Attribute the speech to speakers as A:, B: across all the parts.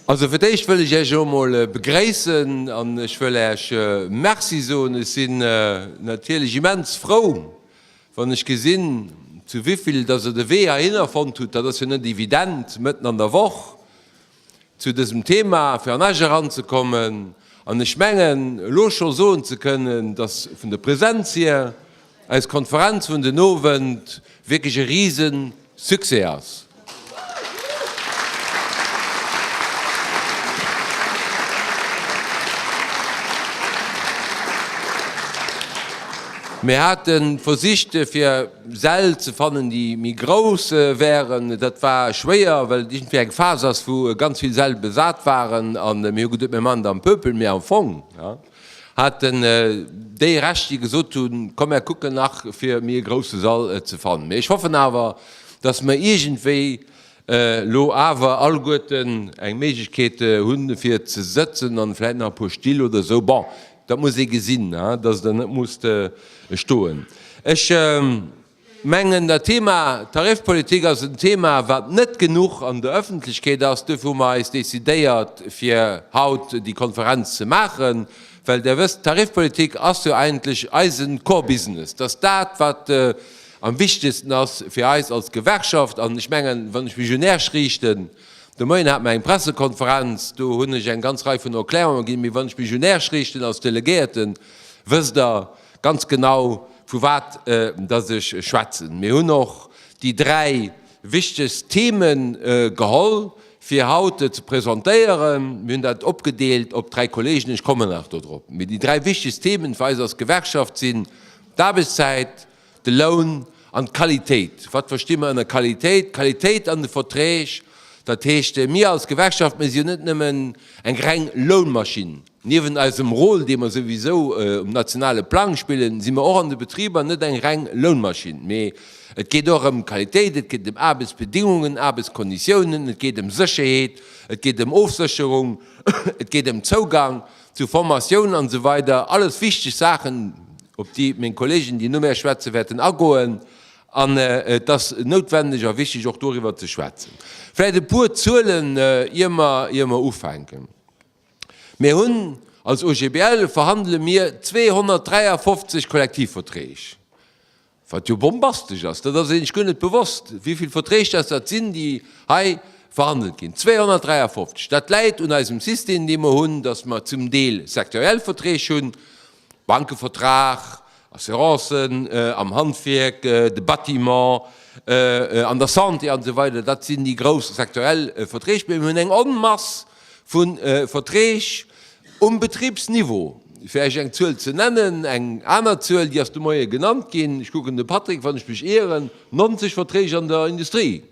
A: Also fir d'éischt wëll ech Iech emol begréissen an ech wëll Iech Merci soen. Ech sinn natierlech immens frou, wann ech gesinn, zu wivill dass Der de Wee heihinner fonnt hutt. Dat ass jo net evident, mëtten an der Woch. zu dësem Thema fir an Esch eranzekommen an ech mengen elo scho soen ze kënnen, dass vun der Präsenz hier eis Konferenz vun den Owend wierklech e Riesensuccès ass. Mir hate versicht fir. Säll ze fannen déi méi grouss wären. Dat war schwéier, well et iergendwéi eng Phas ass wou ganz vill Säll besat waren an mir hu geduet mir man et am Pöpel, mee am Fong haten déi Recht déi gesot hunn, komm mär kucken nach fir méi e grousse Sall ze fannen. Mee ech hoffen awer, datt mer iergendwéi elo awer alleguerten eng Méiglechkeet hunn fir ze sëtzen an vläit nach e puer Still oder esou. Bon, Dat muss ee gesinn, dass et der net muss stoen. Ech mengen, dat Thema Tarifpolitik ass en Thema, wat net genuch an der Öffentlechkeet ass. Duerfir hu mer eis decidéiert, fir haut déi Konferenz ze maachen, well Der wësst, d'Tarifpolitik ass jo eigentlech eise Core Business. Dat ass dat, wat am wichtegsten ass fir eis als Gewerkschaft. An ech mengen, wann ech mech un Iech riichten, De Moien hat mer eng Pressekonferenz, do hunn ech eng ganz Rei vun Erklärungen ginn, mee wann ech mech un Äech riichten als Delegéierten, wësst Der ganz genau vu wat datt ech schwätzen. Mir hunn och déi dräi wichtegst Themen geholl fir haut ze presentéieren. Mir hunn dat opgedeelt op dräi Kollegen, ech kommen nach dodrop. Mee déi dräi wichtegst Themen fir eis als Gewerkschaft sinn d'Aarbechtszäit, De Loun an d'Qualitéit. Wat versti mer ënner Qualitéit? D'Qualitéit an de Verträg, dat heescht, mir als Gewerkschaft, mir sinn net nëmmen eng reng Lounmaschinn. Niewent eisem Rôle, dee mer souwisou um nationale Plang spillen, si mer och an de Betriber net eng reng Lounmaschinn, mee et geet och ëm Qualitéit, et geet ëm Aarbechtsbedingungen, Aarbechtsconditiounen, et geet ëm Sécherheet, et geet ëm Ofsécherung, et geet ëm Zougang Zu Formatioun an esou weider, alles wichteg Saachen, op déi meng Kollegen, déi no mär schwätzen, wäerten agoen. An et ass noutwendeg a wichteg och doriwwer ze schwätzen. Vläicht e puer Zuelen, ier mer, ier mer ufänken. Mir hunn, als OGBL verhandele mir 253 Kollektivverträg. Wat jo bombastesch ass, dat ass een sech guer net bewosst, wéi vill Verträg dass dat sinn, déi hei verhandelt ginn, 253. Dat läit un eisem System, dee mer hunn, dass mer zum Deel sektoriell Verträg hunn, Bankevertrag, Assurancen, am Handwierk, de Bâtiment, an der Santé, an esou weider. Dat sinn déi grouss sektoriell Verträg. Mee mir hunn eng Onmass Vu Verträg um Betribsniveau, fir Iech eng Zuel ze nennen, eng aner Zuel, déi ass de Moie genannt ginn, ech kucken de Patrick, wann ech mech ieren, 90 Verträg an der Industrie,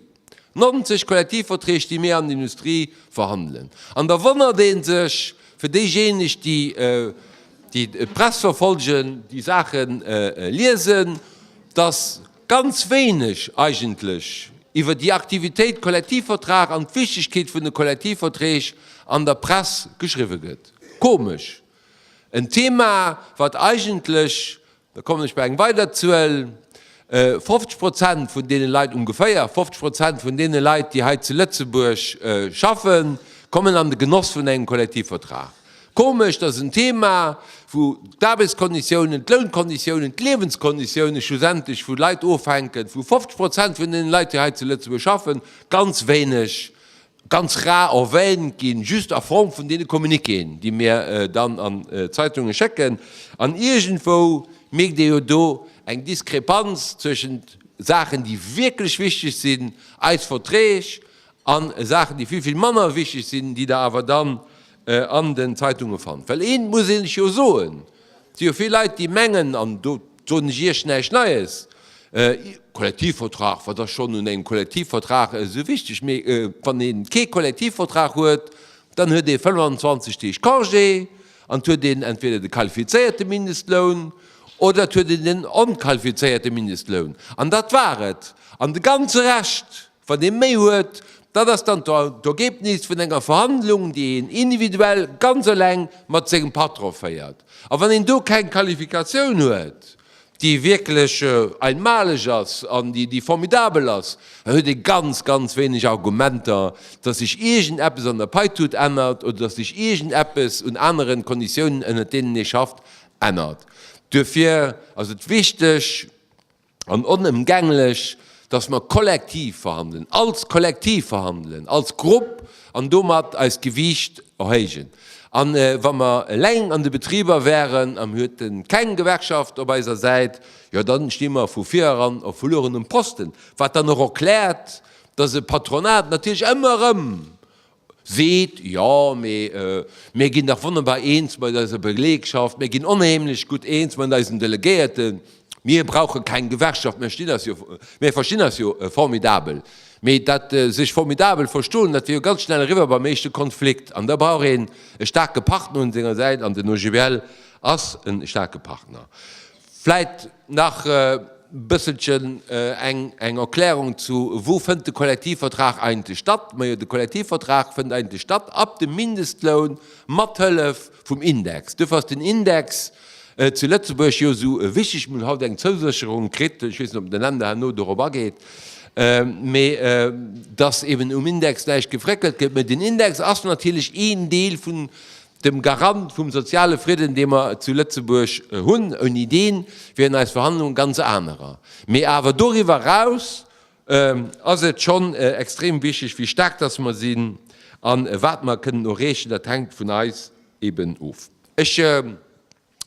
A: 90 Kollektivverträg, déi mir an der Industrie verhandelen. An da wonnert ee sech, fir déijéineg, déi d'Press verfolgen, déi Saache liesen, dass, Ganz wéineg eigentlech iwwer déi Aktivitéit Kollektivvertrag an d'Wichtegkeet vun de Kollektivverträg an der Press geschriwwe gëtt. Komesch. En Thema, wat eigentlech, da kommen ech bei eng weider Zuel, 50 Prozent vun deene Leit, ongeféier 50 Prozent vun deene Leit, déi hei zu Lëtzebuerg schaffen, kommen an de Genoss vun engem Kollektivvertrag. Komesch, dass en Thema, wou d'Aarbechtskonditiounen, d'Lounkonditiounen, d'Liewenskonditiounen schlussendlech vu Leit ofhänken, wou 50 Prozent vun deenen Leit, déi hei zu Lëtzebuerg schaffen, ganz wéineg, ganz rar erwähnt ginn, just a Form vun deene Communiquéen, déi mir dann an d'Zeitunge schécken. An iergendwou mierkt ee jo do eng Diskrepanz zwëschent Saachen, déi wierklech wichteg sinn, eis Verträg, An Saachen, déi vill, vill manner wichteg sinn, déi Der awer dann an den Zeitunge fannt. Well eent muss ee lech jo soen, Et si jo vill Leit, déi mengen, an do soen ech Iech näischt Neies, Kollektivvertrag, wat ass schonn un engem Kollektivvertrag esou wichteg? Mee wann ee kee Kollektivvertrag huet, dann huet ee 25 Deeg Congé an et huet een entweder de qualifizéierte Mindestloun oder et huet een den onqualifizéierte Mindestloun. An dat war et. An de ganze Rescht, Wann ee méi huet, dat ass dann d'Ergebnis vun enger Verhandlung, déi een individuell ganz eleng mat sengem Patron féiert. A wann een do keng Qualifikatioun huet, déi wierklech einmalig ass an déi formidabel ass, da huet ee ganz, ganz wéineg Argumenter, dass sech iergend eppes an der Paitut ännert oder dass sech iergend eppes un aneren Konditiounen, ënnert deenen ee schafft, ännert. Duerfir ass et wichteg, an onëmgänglech, datt mer kollektiv verhandelen, als Kollektiv verhandelen, als Grupp, an domat eist Gewiicht erhéijen. A wa mer eleng an de Betriber wären, a mir hueten keng Gewerkschaft op eiser Säit, jo dann sti mer vu vireran op verluerenem Posten. Wat dann och erkläert, datt e Patronat natierlech ëmmer erëm seet, Jo, mee mir ginn dach wonnerbar eens mat eiser Belegschaft, mir ginn onheemlech gutt eens mat eisen Delegéierten, mir brauche keng Gewerkschaft, mir verstinn eis jo formidabel. Mee dat sech formidabel verstoen, dat wier jo ganz schnell eriwwer beim éischte Konflikt. An da brauch een e staarke Partner un senger Säit, an den OGBL ass e staarke Partner. Vläit nach e bësselchen eng Erklärung zu Wou fënnt de Kollektivvertrag eigentlech statt? Majo, de Kollektivvertrag fënnt eigentlech statt ab dem Mindestloun mat Hëllef vum Index. Duerfir ass den Index zu Lëtzebuerg jo esou wichteg. Mir hunn haut eng Zousécherung kritt, ech weess net, ob den Länder herno dorop ageet, mee dass eeben um Index näischt gefréckelt gëtt. Mä den Index ass natierlech een Deel vun dem Garant vum soziale Fridden, dee mer zu Lëtzebuerg hunn, ouni deen wieren eis Verhandlungen ganz anerer. Mee awer doriwwer eraus ass et schonn extrem wichteg, wéi staark dass mer sinn a wat mer kënnen erreechen. Dat hänkt vun eis eeben of. Ech.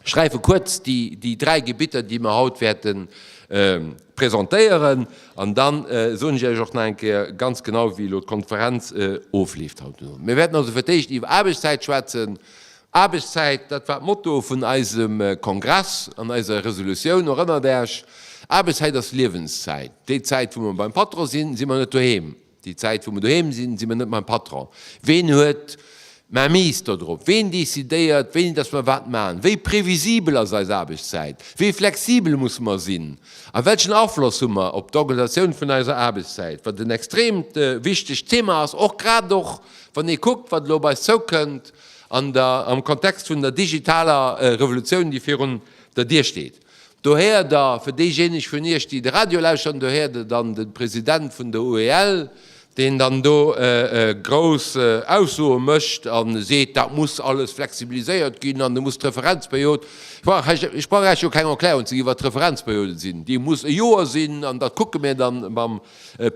A: schreife kuerz déi, déi dräi Gebitter, déi mer haut wäerten presentéieren. An dann soen ech Iech och nach eng Kéier ganz genau, wéi elo d'Konferenz ofleeft haut den Owend. Mir wäerten also fir d'éischt iwwer Aarbechtszäit schwätzen. Aarbechtszäit, dat war d'Motto vun eisem Kongress an eiser Resolutioun, erënnert Äech. Aarbechtszäit ass Liewenszäit. Déi Zäit, wou mer beim Patron sinn, si mer net doheem. Déi Zäit wou mer doheem sinn, si mer net mäi Patron. Ween huet d'Mainmise dodrop? Ween decidéiert wéini datt mer wat maachen? Wéi previsibel ass eis Aarbechtszäit? Wéi flexibel musse mer sinn? A welchen Afloss hu mer op d'Organisatioun vun eiser Aarbechtszäit? Wat en extreemt wichtegt Thema ass, och grad och wann ee kuckt wat elo op eis zoukënnt am Kontext vun der digitaler Revolutioun déi virun der Dier steet. Do héiert Der, fir déijéineg vun Iech, déi de Radio lauschteren, do héiert Der dann de President vun der UEL, deen dann do grouss Aussoe mécht a seet, dat muss alles flexibiliséiert ginn an et muss d'Referenzperiod, ech brauch Iech jo keng Erklärung ze ginn, wat d'Referenzperiode sinn, déi muss e Joer sinn an dat kucke mir dann mam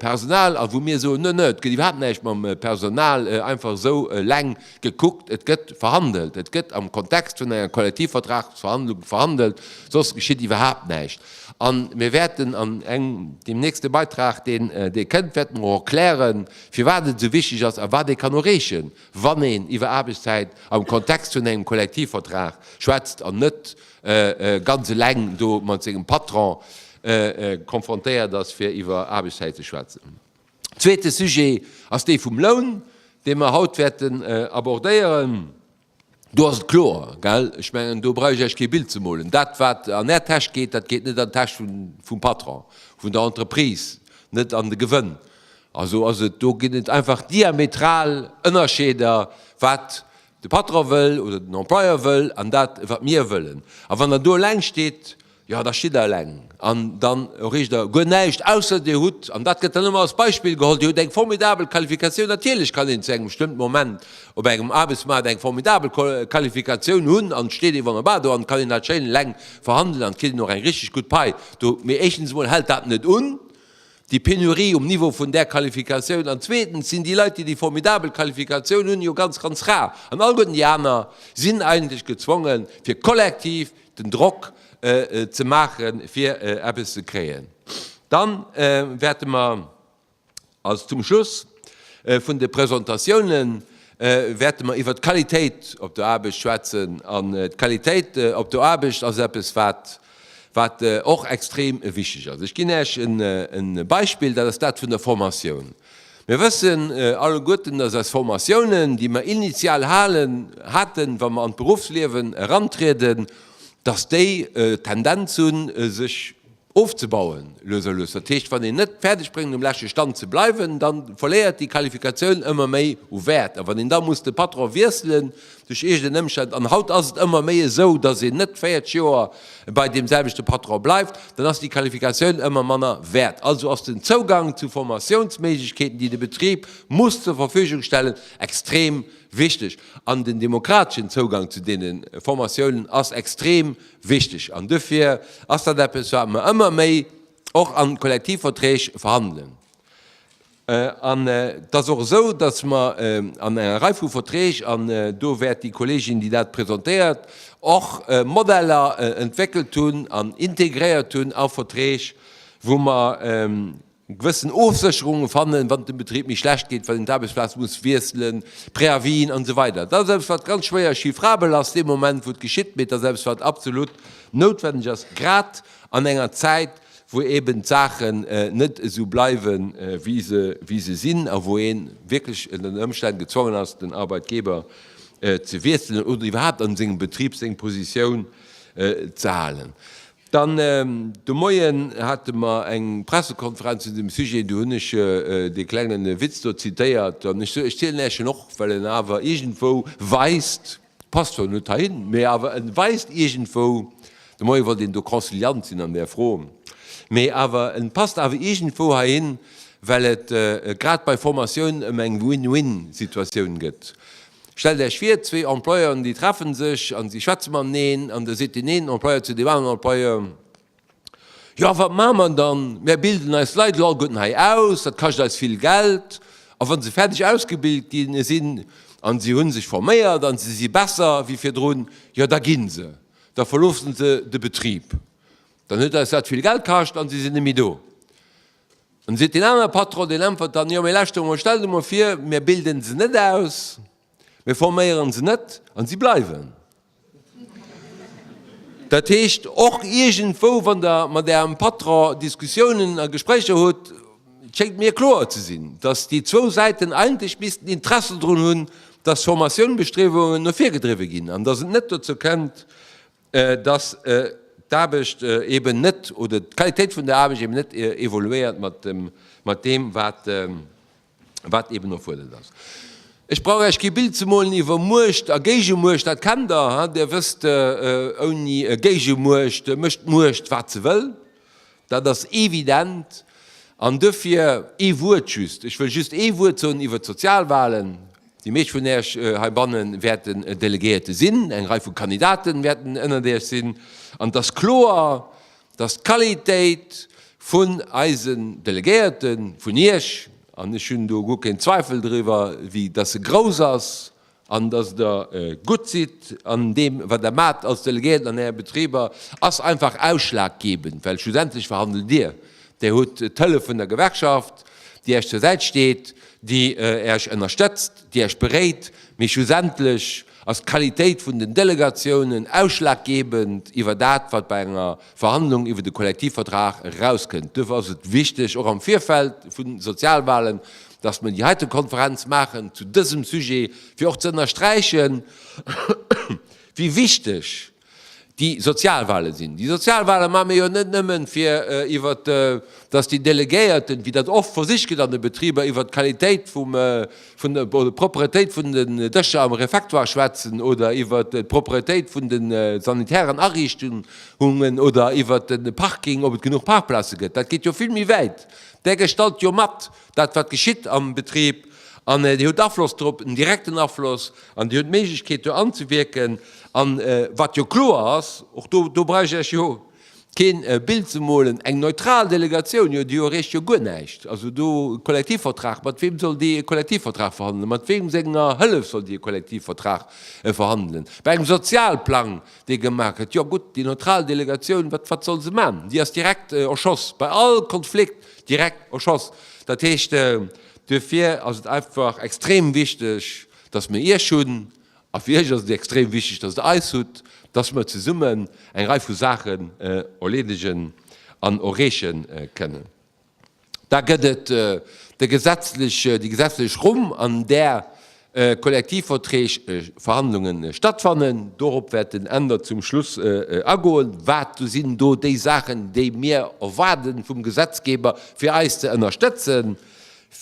A: Personal, a wou mir soen, no no, et gëtt iwwerhaapt näischt mam Personal einfach esou eleng gekuckt, et gëtt verhandelt, et gëtt am Kontext vun enger Kollektivvertragsverhandlung verhandelt, soss geschitt iwwerhaapt näischt. A mir wäerten an engem, deem nächste Beitrag, deen dee kënnt, wäerte mer och erklären, firwat et esou wichteg ass a wat ee kann erreechen, wann een iwwer Aarbechtszäit am Kontext vun engem Kollektivvertrag schwätzt an net ganz eleng do mat sengem Patron konfrontéiert ass, fir iwwer Aarbechtszäit ze schwätzen. Zweete Sujet ass dee vum Loun, dee mer haut wäerten abordéieren. Do ass et kloer, gell, ech mengen, do brauch ech Iech kee Bild ze molen, dat wat an Är Täsch geet, dat geet net an d'Täsch vum Patron, vun der Entreprise, net an de Gewënn. Also ass et, do ginn et einfach diametral Ënnerscheeder, wat De Patron wëll oder den Employeur wëll an dat wat mir wëllen. A wann Der do eleng steet, jo da stitt Der eleng an dann erreecht Der guer näischt, ausser Dir hutt, an dat gëtt dann ëmmer als Beispill geholl, Dir hutt eng formidabel Qualifikatioun. Natierlech kann een zu engem bestëmmten Moment op engem Aarbechtsmaart eng formidabel Qualifikatioun hunn an steet ee wonnerbar do an kann een dat schéin eleng verhandelen an kritt een och eng richteg gutt Pai do. Mee éischtens emol hält dat net un. déi Penurie um Niveau vun där Qualifikatioun an zweetens sinn déi Leit, déi déi formidabel Qualifikatioun hunn, jo ganz, ganz rar an alleguerten déi aner sinn eigentlech gezwongen, fir kollektiv den Drock ze maachen, fir eppes ze kréien. Dann wäerte mer als zum Schluss vun de Presentatiounen wäerte mer iwwert d'Qualitéit op der Aarbecht schwätzen an d'Qualitéit op der Aarbecht ass eppes, wat Wat och extrem wichteg ass. Ech ginn Äech e Beispill, dat ass dat vun der Formatioun. Mir wëssen alleguerten, dass eis Formatiounen, déi mer initial halen, haten, wa mer an d'Beruffsliewen erantrieden, dass déi d'Tendenz hunn, sech ofzebauen, lues a lues. Dat heescht, wann een net fäerdeg bréngt, um leschte Stand ze bleiwen, da verléiert déi Qualifikatioun ëmmer méi u Wäert. A wann een da muss de Patron wiesselen, duerch eegenen Ëmstänn, an haut ass et ëmmer méi esou, datt een net 40 Joer bei deem selwechte Patron bleift, dann ass déi Qualifikatioun ëmmer manner wäert. Also ass den Zougang zu Formatiounsméiglechkeeten, déi de Betrib muss zur Verfügung stellen, extrem wichteg. An den demokrateschen Zougang zu deene Formatiounen ass extrem wichteg. An dofir ass dat eppes, wat mer ëmmer méi och an Kollektivverträg verhandelen. An et ass och esou, dass mer an enger Rei vu Verträg, an do wäert déi Kollegin, déi dat presentéiert, och Modeller entwéckelt hunn an integréiert hunn a Verträg, wou mer gewëssen Ofsécherunge fannen, wann et dem Betrib méi schlecht geet, wann een d'Aarbechtsplaz muss wiesselen, Préavisen an esou weider. Dat ass eppes, wat ganz schwéier chiffrabel ass dee Moment, wou et geschitt, mee et ass eppes, wat absolut noutwenneg ass, grad an enger Zäit, wou eben d'Saachen net esou bleiwen, wéi se sinn, a wou ee wierklech ënner Ëmstänn gezwongen ass, den Arbeitgeber ze wiesselen oder iwwerhaapt a sengem Betrib seng Positioun ze halen. Dann de Moien hate mer eng Pressekonferenz zu deem Sujet. Do hunn ech dee klengen Witz do zitéiert, an ech soen, ech zielen Äech en och, well en awer iergendwou weist, Passt zwar net heihin, mee awer en weist iergendwou, de Moien wollt een do conciliant sinn an där Fro, mee awer en passt awer iergendwou heihin, well et grad bei Formatioun ëm eng Win-Win Situatioun gëtt. Stellt Äech vir, zwee Employeuren déi treffen sech an si schwätze mateneen an da seet deen een Employeur zu deem aneren Employeur, Jo, wat maache mer dann? Mär bilden eis Leit elo alleguerten hei aus, dat kascht eis vill Geld. A wa se fäerdeg ausgebilt gi sinn a se hu sech forméiert a se si besser wéi virdrun, jo da gi se, da verloosse se de Betrib. Dann huet eis dat vill Geld kascht a se sinn net méi do. An da seet deen anere Patron, deen äntwert dann, Jo, mee lauschter emol, stell der emol vir, mär bilden se net aus, mir forméieren se net a si bleiwen. Dat heescht, och iergendwou, wann Der mat Ärem Patron Diskussiounen a Gespréicher hutt, et schéngt mir kloer ze sinn, datt déi zwou Säiten eigentlech missten Interesse drun hunn, datt Formatiounbestriewungen no vir gedriwwe ginn an datt et net dozou kënnt, datt d'Aarbecht eben net oder d'Qualitéit vun der Aarbecht eben net evoluéiert mat deem, wat wat eben erfuerdert ass. Ech brauch Äech kee Bild ze molen iwwer Muecht a Géigemuecht, dat kennt Der. Der wësst, ouni Géigemuecht mécht d'Muecht wat se wëll, dat ass evident. An dofir ee Wuert just, ech wëll just ee Wuert soen iwwer d'Sozialwahlen. Déi meescht vun Äech heibanne wäerten Delegéierte sinn, eng Rei vu Kandidaten wäerten ënnert Äech sinn. An et ass kloer, dass d'Qualitéit vun eisen Delegéierten, vun Iech, an ech hunn do guer keen Zweifel driwwer, vue dass se grouss ass an dass Der gutt sidd an deem, wat Der maacht als Delegéierten an Äre Betriber, ass einfach ausschlaggebend, well schlussendlech verhandelt Dir. Dir hutt d'Hëllef vun der Gewerkschaft, déi Iech zur Säit steet, déi Iech ënnerstëtzt, déi Iech beréit, mee schlussendlech, Ass d'Qualitéit vun den Delegatiounen ausschlaggebend iwwer dat, wat bei enger Verhandlung iwwer de Kollektivvertrag erauskënnt? Duerfir ass et wichteg, och am Virfeld vu Sozialwahlen, dass mer déi heite Konferenz maachen zu dësem Sujet, fir och ze ënnersträichen, wéi wichteg, déi Sozialwale sinn. Déi Sozialwale maache mir jo net nëmme fir iwwer, dass déi Delegéierten, wéi dat oft versicht gëtt an de Betriber, iwwer d'Qualitéit vum, vun der, oder d'Propretéit vun den Dëscher am Refectoire schwätzen oder iwwer d'Propretéit vun de sanitären Ariichtungen oder iwwer de Parking, ob et genuch Parkplaze gëtt. Dat geet jo vill méi wäit. Där gestalt jo mat, Dat wat geschitt am Betrib, an Dir hutt Afloss drop, en direkten Afloss, an Dir hutt d'Méiglechkeet do anzewierken. An wat jo kloer ass, och do, do brauch ech Iech jo keen Bild ze molen, eng neutral Delegatioun, jo, déi erreecht jo guer näischt. Also do Kollektivvertrag, mat weem soll déi e Kollektivvertrag verhandelen? Mat weem senger Hëllef soll déi e Kollektivvertrag verhandelen? Bei engem Sozialplang, dee gemaach gëtt, jo gutt, déi neutral Delegatioun, wat, wat soll se maachen? Déi ass direkt erschoss. Bei all Konflikt Direkt au Schoss. Dat heescht, duerfir ass et einfach extrem wichteg, dass mir Iech hunn, a fir Iech ass et extrem wichteg, dass Der eis hutt, dass mir zesummen eng Rei vu Saachen erleedegen an erreeche kënnen. Da gëtt et de gesetzlech, déi gesetzlech Rumm, an där Kollektivverträgverhandlunge stattfannen. Dorop wäert den Änder zum Schluss agoen. Wat sinn do déi Saachen, déi mir erwaarde vum Gesetzgeber, fir eis ze ënnerstëtzen?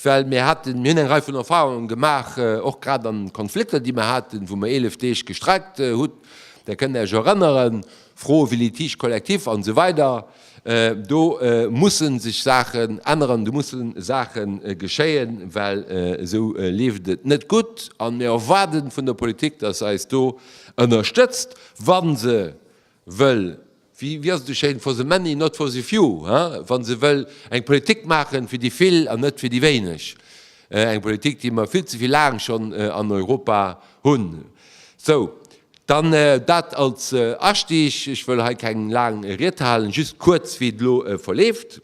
A: Well mir haten, mir hunn eng Rei vun Erfahrungen gemaach, och grad an Konflikter, déi mir haten, wou mir 11 Deeg gestreikt hutt. Där kënnt Är Iech erënneren. Froe wéi Litige collectif an esou weider, do musse sech Saachen änneren, do musse Saache geschéien, well esou leeft et net gutt. An mir erwaarden vun der Politik, dass se eis do ënnerstëtzt, wa se wëll, wéi ass et esou schéin, for the many, not for the few, he, wa se wëll eng Politik maachen fir déi vill an net fir déi wéineg, eng Politik, déi mer vill ze vill laang schonn an Europa hunn. Sou, Dann dat als Astieg. Ech wëll hei keng laang Ried halen, just kuerz, wéi et elo verleeft.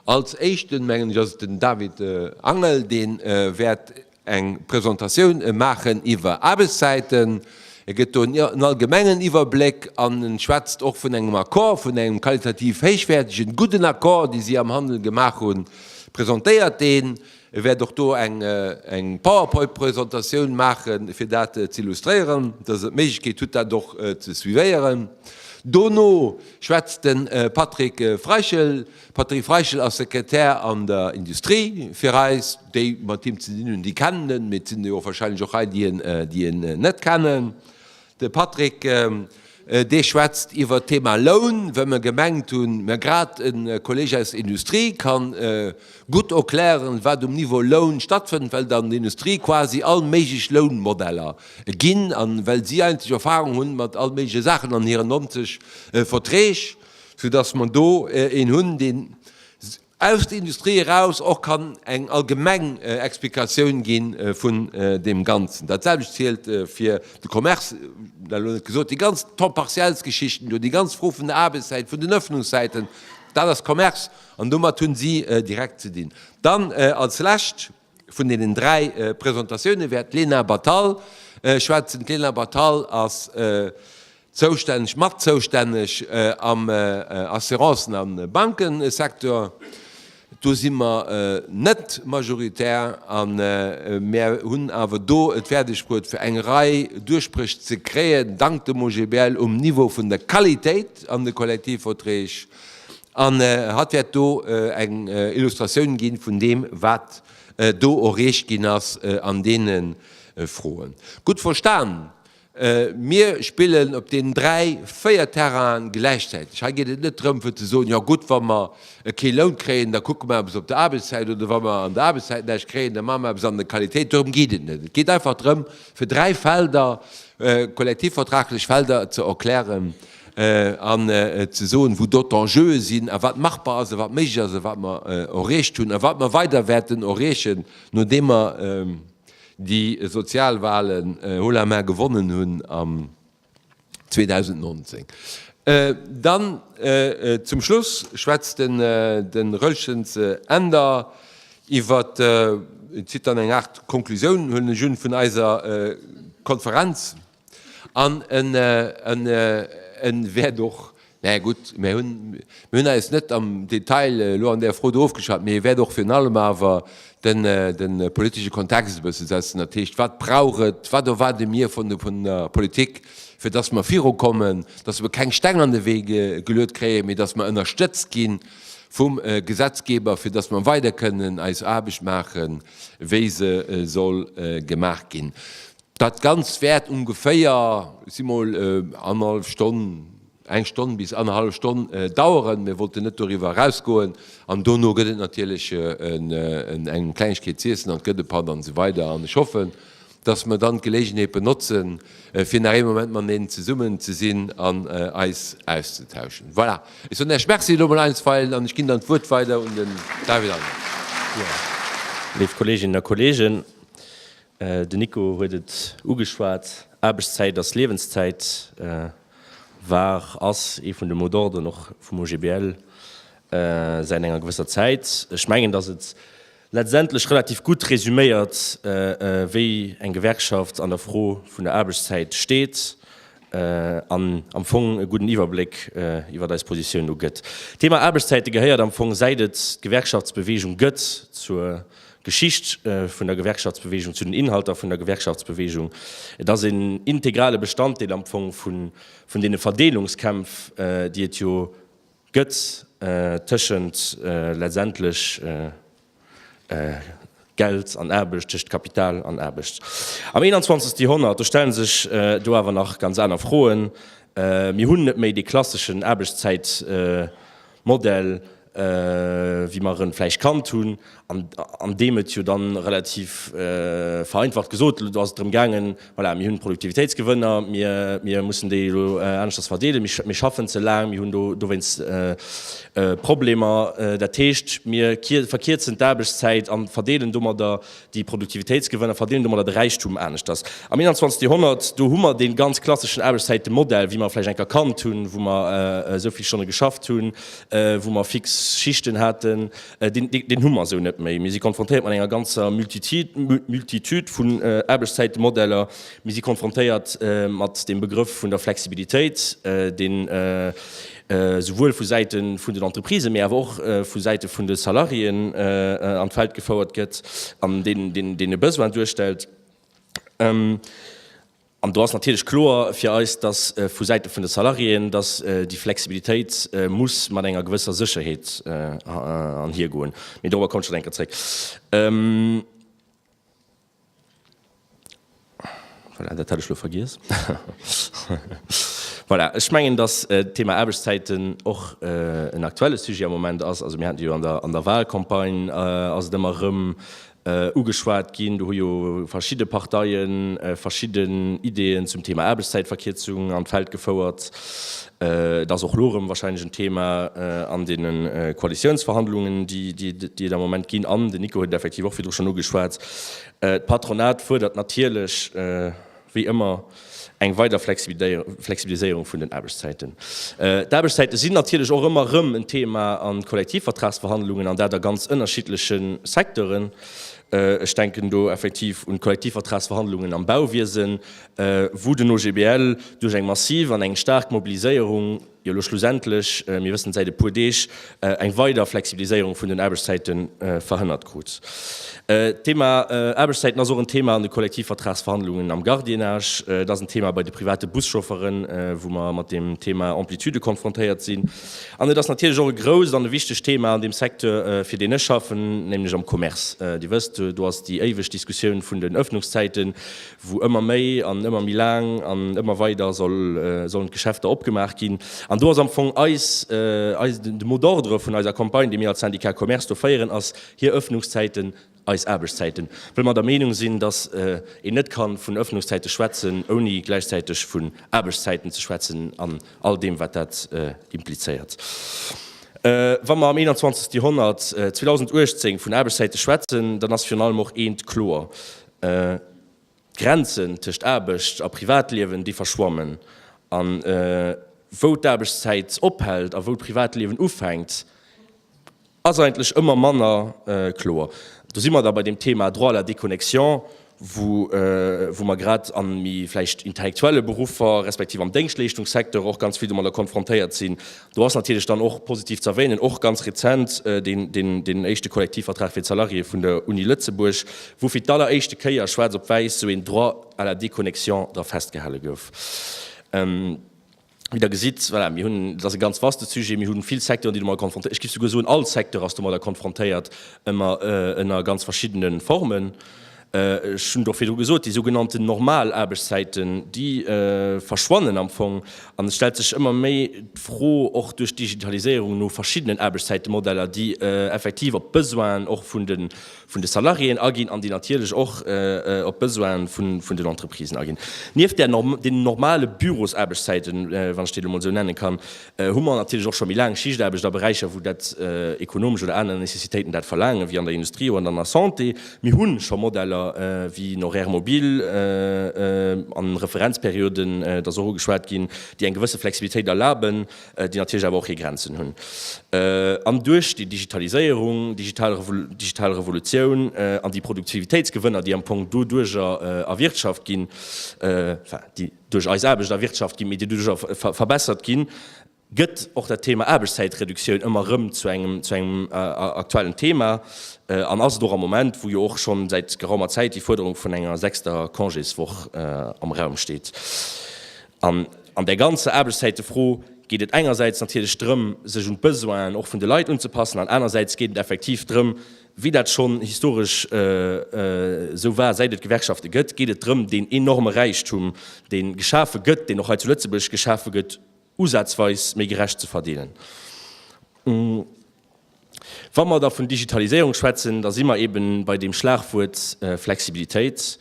A: Als Éischten, mengen ech, ass et den David Angel, dee wäert eng Presentatioun maachen iwwer Aarbechtszäiten. E gëtt do en allgemengen Iwwerbléck an en schwätzt och vun engem Accord, vun engem qualitativ héichwäertegen, gudden Accord, dee si am Handel gemaach hunn, presentéiert deen. E wäert och do eng Powerpoint-Presentatioun maache fir dat z'illustréieren, dass Der d'Méiglechkeet hutt, dat och ze suivéieren. Dono schwätzt de Patrick Freichel. Patrick Freichel ass Sekretär an der Industrie fir eis. Déi mat him ze dinn hunn, déi kennen en, mee et sinn der jo wahrscheinlech och hei, déi en net kennen. De Patrick Dees schwätzt iwwert d'Thema Loun, well mer gemengt hunn, mä grad e Kolleg aus der Industrie kann gutt erklären, wat um Niveau Loun stattfënnt, well an der Industrie quasi all méiglech Lounmodeller ginn a well si eigentlech Erfahrung hunn mat all méigleche Saachen an hiren 90 Verträg, soudass mer do een hunn, dee Aus der Industrie eraus och kann eng allgemeng Explikatioun gi vun deem Ganzen. Dat selwecht zielt fir de Commerce, dat elo net gesot. Déi ganz Temps-partiels-Geschichten do, déi ganz Fro vun der Aarbechtszäit, vun den Öffnungszäiten, dat ass Commerce an domat hu si direkt ze dinn. Dann als Lescht, Vun deenen dräi Presentatioune wäert d'Lena Batal schwätzen. D'Lena Batal ass zoustänneg, mat zoustänneg am Assurancen a Bankesecteur. Do si mer net majoritär a mir hunn awer do et fäerdegbruet fir eng Rei Duerchbréch ze kréien, dank dem OGBL, um Niveau vun der Qualitéit an de Kollektivverträg. An hatt wäert do eng Illustratioun ginn vun deem, wat do erreecht ginn ass an deene Froen. Gutt verstan, mir spillen op deenen dräi, véier Terrainen gläichzäiteg. Hei geet et net drëm fir ze soen, jo gutt, wa mer kee Loun kréien, da kucke mer eppes op der Aarbechtszäit, oder wa mer an der Aarbechtszäit näischt kréien, da maache mer eppes an der Qualitéit. Dorëm geet et net. Et geet einfach drëm, fir dräi Felder, kollektivvertraglech Felder ze erklären, an ze soen, wou do d'Enjeue sinn a wat machbar ass a wat méiglech ass a wat mer erreecht hunn a wat mer weider wäerten erreechen, nodeem mer déi Sozialwahlen haut la main gewonnen hunn am 2019. Dann zum Schluss schwätzt de Roeltjens Änder iwwer, zitt dann eng Aart Konklusioun, huelen ech un, vun eiser Konferenz. An e wäert och, mä gutt, mir hunn eis net am Detail elo an där Fro do ofgeschwat, mee e wäert och virun allem awer de politesche Kontext e bësse setzen. Dat heescht, wat brauch et, wat erwaarde mir vun der Politik, fir datt mer virukommen, datt mer keng Steng an de Wee geluet kréien, mee datt mer ënnerstëtzt gi vum Gesetzgeber, fir datt mer weider kënnen eis Aarbecht maachen, wéi se soll gemaach ginn. Dat Ganzt wäert ongeféier, ech si mol, annerhallef Stonn, eng Stonn bis annerhallef Stonn daueren. Mir wollten net doriwwer erausgoen. An dono gëtt et natierlech eng Klengegkeet z'iessen an et gëtt e Patt an esou weider. An ech hoffen, dass mer dann d'Geleegenheet benotzen, fir nach ee Moment mateneen zesummen ze sinn an eis auszetauschen. Voilà, ech soen Iech Merci elo mol einstweilen an ech ginn dann d'Wuert weider un den David Almers.
B: Léif Kolleeginnen a Kolleegen, Den Nico huet et ugeschwat, Aarbechtszäit ass Liewenszäit war, ass ee vun de Mot d'ordren och vum OGBL säit enger gewësser Zäit. Ech mengen, datt et letztendlech relativ gutt resuméiert, wéi eng Gewerkschaft an der Fro vun der Aarbechtszäit steet an am Fong e gudden Iwwerbléck iwwer eis Positioun do gëtt. D'Thema Aarbechtszäite gehéiert am Fong, säit et d'Gewerkschaftsbeweegung gëtt, zur D'Geschicht vun der Gewerkschaftsbeweegung, zu den Inhalter vun der Gewerkschaftsbeweegung, et ass een integrale Bestanddeel am Fong vun deene Verdeelungskämpf, déi et jo gëtt tëschent letztendlech Geld an Aarbecht, tëschent Kapital an Aarbecht. Am 21. Joerhonnert, do stelle sech do awer nach ganz aner Froen. Mir hunn net méi dee klasseschen Aarbechtszäitmodell, Modell wéi mer en vläicht kannt hunn, an deem et jo dann relativ vereinfacht gesot elo ass et drëm gaangen, voilà, mir hunn Produktivitéitsgewënner, mir mussen déi elo aneschters verdeelen, mir schaffen ze laang, mir hunn dowéinst Problemer, dat heescht mir verkierzen d'Aarbechtszäit a verdeelen domadder Déi Produktivitéitsgewënner verdeelen domadder de Räichtum aneschters. Am 21. Joerhonnert, do hu mer dee ganz klasseschen Aarbechtszäitemodell, wéi mer e vläicht eng kannt hunn, wou mer esou vill Stonne geschafft hunn, wou mer fix Schichten haten, deen hu mer esou net méi. Mir si konfrontéiert mat enger ganzer Multitude vun Aarbechtszäitemodeller. Mir si konfrontéiert mat deem Begrëff vun der Flexibilitéit, deen esouwuel vu Säite vun den Entreprisen, mee awer och vu Säite vun de Salariéen an d'Feld gefouert gëtt an deen e Besoin duerstellt. An do ass natierlech kloer fir eis, dass vu Säite vun de Salariéen, dass déi Flexibilitéit muss mat enger gewësser Sécherheet anhiergoen. Mee dorobber komme ech schonn eng Kéier zréck. Voilà, dat hat ech elo vergiess. Voilà, ech mengen, dass d'Thema Aarbechtszäiten och en aktuelle Sujet am Moment ass. Also mir haten jo an der Wahlcampagne, ass et ëmmer erëm ugeschwat ginn. Do hu jo verschidde Parteie verschidden Ideeën zum Thema Aarbechtszäitverkierzung an d'Feld gefouert. Et ass och elo erëm wahrscheinlech en Thema an deene Koalitiounsverhandlungen, déi et am Moment ginn. An den Nico huet et effektiv och virdru schonn ugeschwat, D'Patronat fuerdert natierlech wéi ëmmer eng weider Flexibiliséierung vun den Aarbechtszäiten. D'Aarbechtszäite sinn natierlech och ëmmer erëm en Thema a Kollektivvertragsverhandlungen, an dat a ganz ënnerschiddleche Secteuren. Ech denken do effektiv un d'Kollektivvertragsverhandlungen am Bauwiesen, wou den OGBL duerch eng massiv an eng staark Mobiliséierung jo elo schlussendlech, mir wëssen et säit e puer Deeg, eng weider Flexibiliséierung vun den Aarbechtszäite verhënnert krut. D'Thema Aarbechtszäiten ass och en Thema an de Kollektivvertragsverhandlungen am Gardiennage, et ass en Thema bei de private Buschaufferen, wou mer mat deem Thema Amplitude konfrontéiert sinn, an et ass natierlech och e grousst an e wichtegt Thema an deem Secteur, fir deen ech schaffen, nämlech am Commerce. Dir wësst, do ass déi éiweg Diskussioun vun den Öffnungszäiten, wou ëmmer méi an ëmmer méi laang an ëmmer weider sollen d'Geschäfter opgemaach ginn. An do ass am Fong eis, eis, de mot d'ordre vun eiser Campagne, déi mir als Syndicat Commerce do féieren, ass, hir Öffnungszäiten, eis Aarbechtszäiten. Well mer der Meenung sinn, dass een net ka vun Öffnungszäite schwätzen, ouni gläichzäiteg vun Aarbechtszäiten ze schwätzen an all deem, wat dat implizéiert. Wa mer am 21. Joerhonnert, 2018, vun Aarbechtszäite schwätzen, dann ass virun allem och eent kloer, D'Grenzen tëscht Aarbecht a Privatliewen, déi verschwammen. A wou d'Aarbechtszäit ophält a wou d'Privatliewen ufänkt, ass eigentlech ëmmer manner kloer. Do si mer da bei deem Thema Droit à la déconnexion, wou mer grad a méi vläicht intellektuelle Beruffer, respektiv am Déngschtleeschtungssecteur och ganz vill domadder konfrontéiert sinn. Do ass natierlech dann och positiv ze erwänen, och ganz rezent, deen éischte Kollektivvertrag fir d'Salariéeë vun der Uni Lëtzebuerg, wou fir d'alleréischte Kéier schwaarz op wäiss esou een Droit à la déconnexion dra festgehale gouf. Wéi Der gesitt, voilà, mir hunn, dat ass e ganz vaste Sujet, mir hu vill Secteuren, déi domadder konfrontéiert, ech géif souguer soen, all Secteur ass domadder konfrontéiert, ëmmer ënner ganz verschiddene Formen. Ech hunn et och virdru gesot, déi sougenannten normal Aarbechtszäiten, déi verschwannen am Fong. An et stellt sech ëmmer méi d'Fro, och duerch d'Digitaliséierung, no verschiddenen Aarbechtszäitemodeller, déi effektiv op d'Besoinen och vun de Salariéen aginn an déi natierlech och op d'Besoine vun den Entreprisen aginn. Nieft deenen normale Bürosaarbechtszäiten, wann ech déi elo mol esou nenne kann, hu mer natierlech och scho méi laang Schichtaarbecht a Beräicher, wou dat ekonomesch oder aner Necessitéiten dat verlaangen, wéi an der Industrie oder an der Santé. Mir hu scho Modeller wéi en Horaire mobile an Referenzperioden, et ass och ugeschwat ginn, déi eng gewësse Flexibilitéit erlaben, déi natierlech awer och hir Grenzen hunn. An duerch déi Digitaliséierung, digital Revolutioun an déi Produktivitéitsgewënner, déi am Fong doduerjer erwirtschaft ginn, enfin, déi. duerch eis Aarbecht a Wirtschaft ginn, mee déi doduerjer verbessert ginn, gëtt och dat Thema Aarbechtszäitreduktioun ëmmer erëm zu engem, zu engem aktuellen Thema an ass et och am Moment, wou jo och schonn säit geraumer Zäit déi Fuerderung vun enger sechster Congéswoch am Raum steet. An an där ganzer Aarbechtszäitefro geet et engersäits natierlech drëm, sech un d'Besoinen och vun de Leit unzepassen an anersäits geet et effektiv drëm, Wéi dat schonn historesch esou war, säit et Gewerkschafte gëtt, geet et drëm, deen enorme Räichtum, dee geschafe gëtt, deen och hei zu Lëtzebuerg geschafe gëtt, usazweis méi gerecht ze verdeelen. Wa mer da vun Digitaliséierung schwätzen, da si mer eeben bei deem Schlagwuert Flexibilitéit.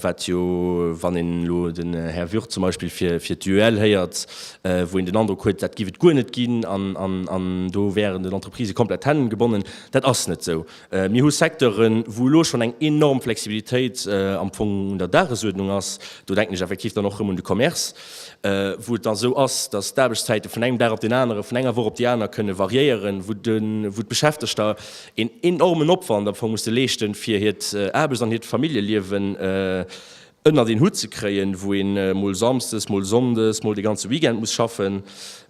B: wat jo, wann een elo den Här Würth zum Beispill fir d'UEL héiert, wou een den Androck huet, dat giff et guer net ginn an do wäeren den Entreprisë komplett d'Hänn gebonnen. Dat ass net esou. Mir hu Secteuren, wou elo schonn eng enorm Flexibilitéit am Fong un der Dagesuerdnung ass, do denken ech effektiv dann och erëm un de Commerce, wou et dann esou ass, datt d'Aarbechtszäite vun engem Dag op den anere, vun enger Woch op déi aner kënne variéieren, wou d'Beschäftegter Een enormen Opwand am Fong musse leeschten, fir hiert Aarbechts an hiert Familljeliewen ënnert een Hutt ze kréien, wou een mol Samsdes, mol Sonndes, mol de ganze Weekend muss schaffen.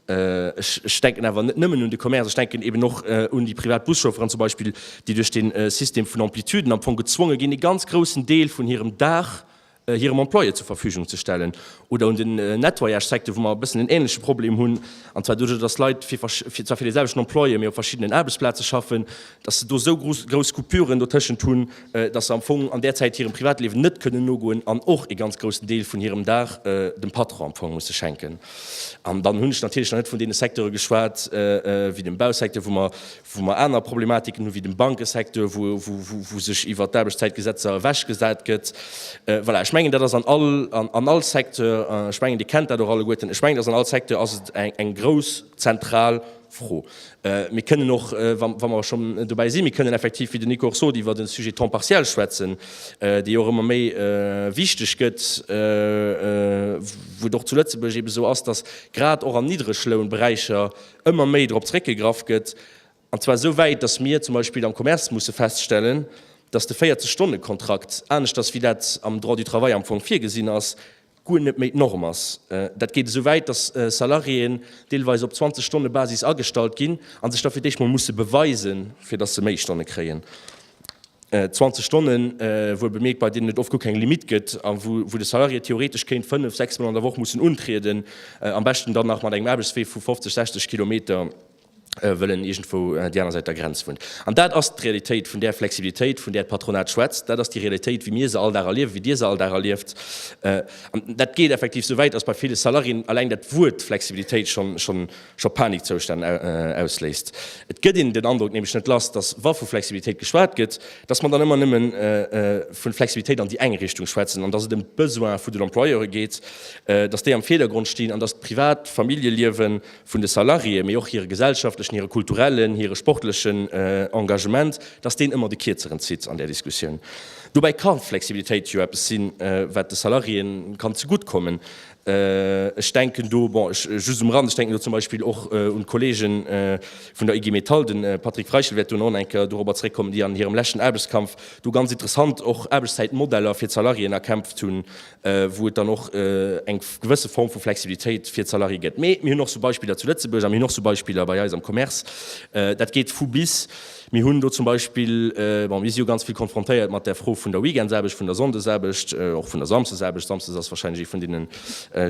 B: Ech denken awer net nëmmen un de Commerce, ech denken eben och un déi privat Buschaufferen zum Beispill, déi duerch dee System vun Amplituden am Fong gezwonge ginn, e ganz groussen Deel vun hirem Dag hirem Employé zur Verfügung ze stellen, oder un den Nettoyage-Secteur, wou mer e bëssen en änleche Problem hunn, an zwar doduerch, dass Leit fir zwar fir dee selwechten Employé, mee op verschiddenen Aarbechtsplaze schaffen, dass se do esou grouss Coupure dotëschent hunn, dass se am Fong an där Zäit hirem Privatliewen net kënnen nogoen an och e ganz groussen Deel vun hirem Dag dem Patron am Fong musse schenken. An dann hunn ech natierlech nach net vun deene Secteure geschwat wéi dem Bausecteur, wou mer, wou mer aner Problematiken hu wéi dem Bankesecteur, wou sech iwwert d'Aarbechtszäitgesetzer ewechgesat gëtt. Voilà, ech mengen, dat ass an all, an all Secteur, ech mengen, Dir kennt dat och alleguerten, ech mengen, et ass an all Secteur ass et eng grouss zentral Fro. Mir kënnen och, wa mer schonn dobäi sinn, mir kënnen effektiv, wéi den Nico och sot, iwwert de Sujet temps partiel schwätzen, dee jo och ëmmer méi wichteg gëtt, wou et och zu Lëtzebuerg eeben esou ass, dass grad och an Niddreglounberäicher, ëmmer méi drop zeréckgegraff gëtt, an zwar esou wäit, datt mir zum Beispill am Commerce musse feststellen, datt de 40 Stonne Kontrakt, aneschters wéi dat am Droit du travail am Fong virgesinn ass, guer net méi d'Norm ass. Dat geet esou wäit, datt Salariéen deelweis op 20 Stonne Basis agestallt ginn, a sech da fir d'éischt mol musse beweisen, fir datt se méi Stonne kréien. 20 Stonnen, wou e bemierkt, bei deenen et oft guer keng Limite gëtt a wou de Salarié theoretesch kéint fënnef, sechs Mol an der Woch mussen untrieden, am beschten dann nach mat engem Aarbechtswee vu 50, 60 Kilometer, wëll en iergendwou déi aner Säit der Grenz wunnt. An dat ass d'Realitéit vun där Flexibilitéit, vun där d'Patronat schwätzt. Dat ass déi Realitéit, wéi mir se all Dag erliewen, wéi Dir se all Dag erlieft. An dat geet effektiv esou wäit, dass bei ville Salariéen eleng dat Wuert Flexibilitéit schonn, scho Panikzoustänn ausléist. Et gëtt een den Androck nämlech net lass, datt wa vu Flexibilitéit geschwat gëtt, datt mer dann ëmmer nëmme vu Flexibilitéit an déi eng Richtung schwätzen an datt et ëm d'Besoin vun den Employeure geet, datt déi am Virdergrond stinn an datt d'privat Familljeliewe vun de Salariéë, mee och hire gesellschaftlechen, hire kulturellen, hire sportlechen Engagement, datt deen ëmmer de Kierzeren zitt an där Diskussioun. Dobäi ka Flexibilitéit jo eppes sinn, wat de Salariéë kann zegutt kommen. Ech denken do, bon, ech, just um Rand, ech denken do zum Beispill och un d'Kollege vun der IG Metall, de Patrick Freichel wäert do nach enker dorobber zréckkommen, déi an hirem leschten Aarbechtskampf do ganz interessant och Aarbechtszäitmodeller fir d'Salariéen erkämpft hunn, wou et dann och eng gewësse Form vu Flexibilitéit fir d'Salarié gëtt. Mee mir hunn och esou Beispiller zu Lëtzebuerg a mir hunn och esou Beispiller bei eis am Commerce. Dat geet vu bis. Mir hunn do zum Beispill, bon, mir si jo ganz vill konfrontéiert mat där Fro vun der Weekendsaarbecht, vun der Sonndesaarbecht, och vun der Samsdesaarbecht, Samsdes ass wahrscheinlech ee vun deenen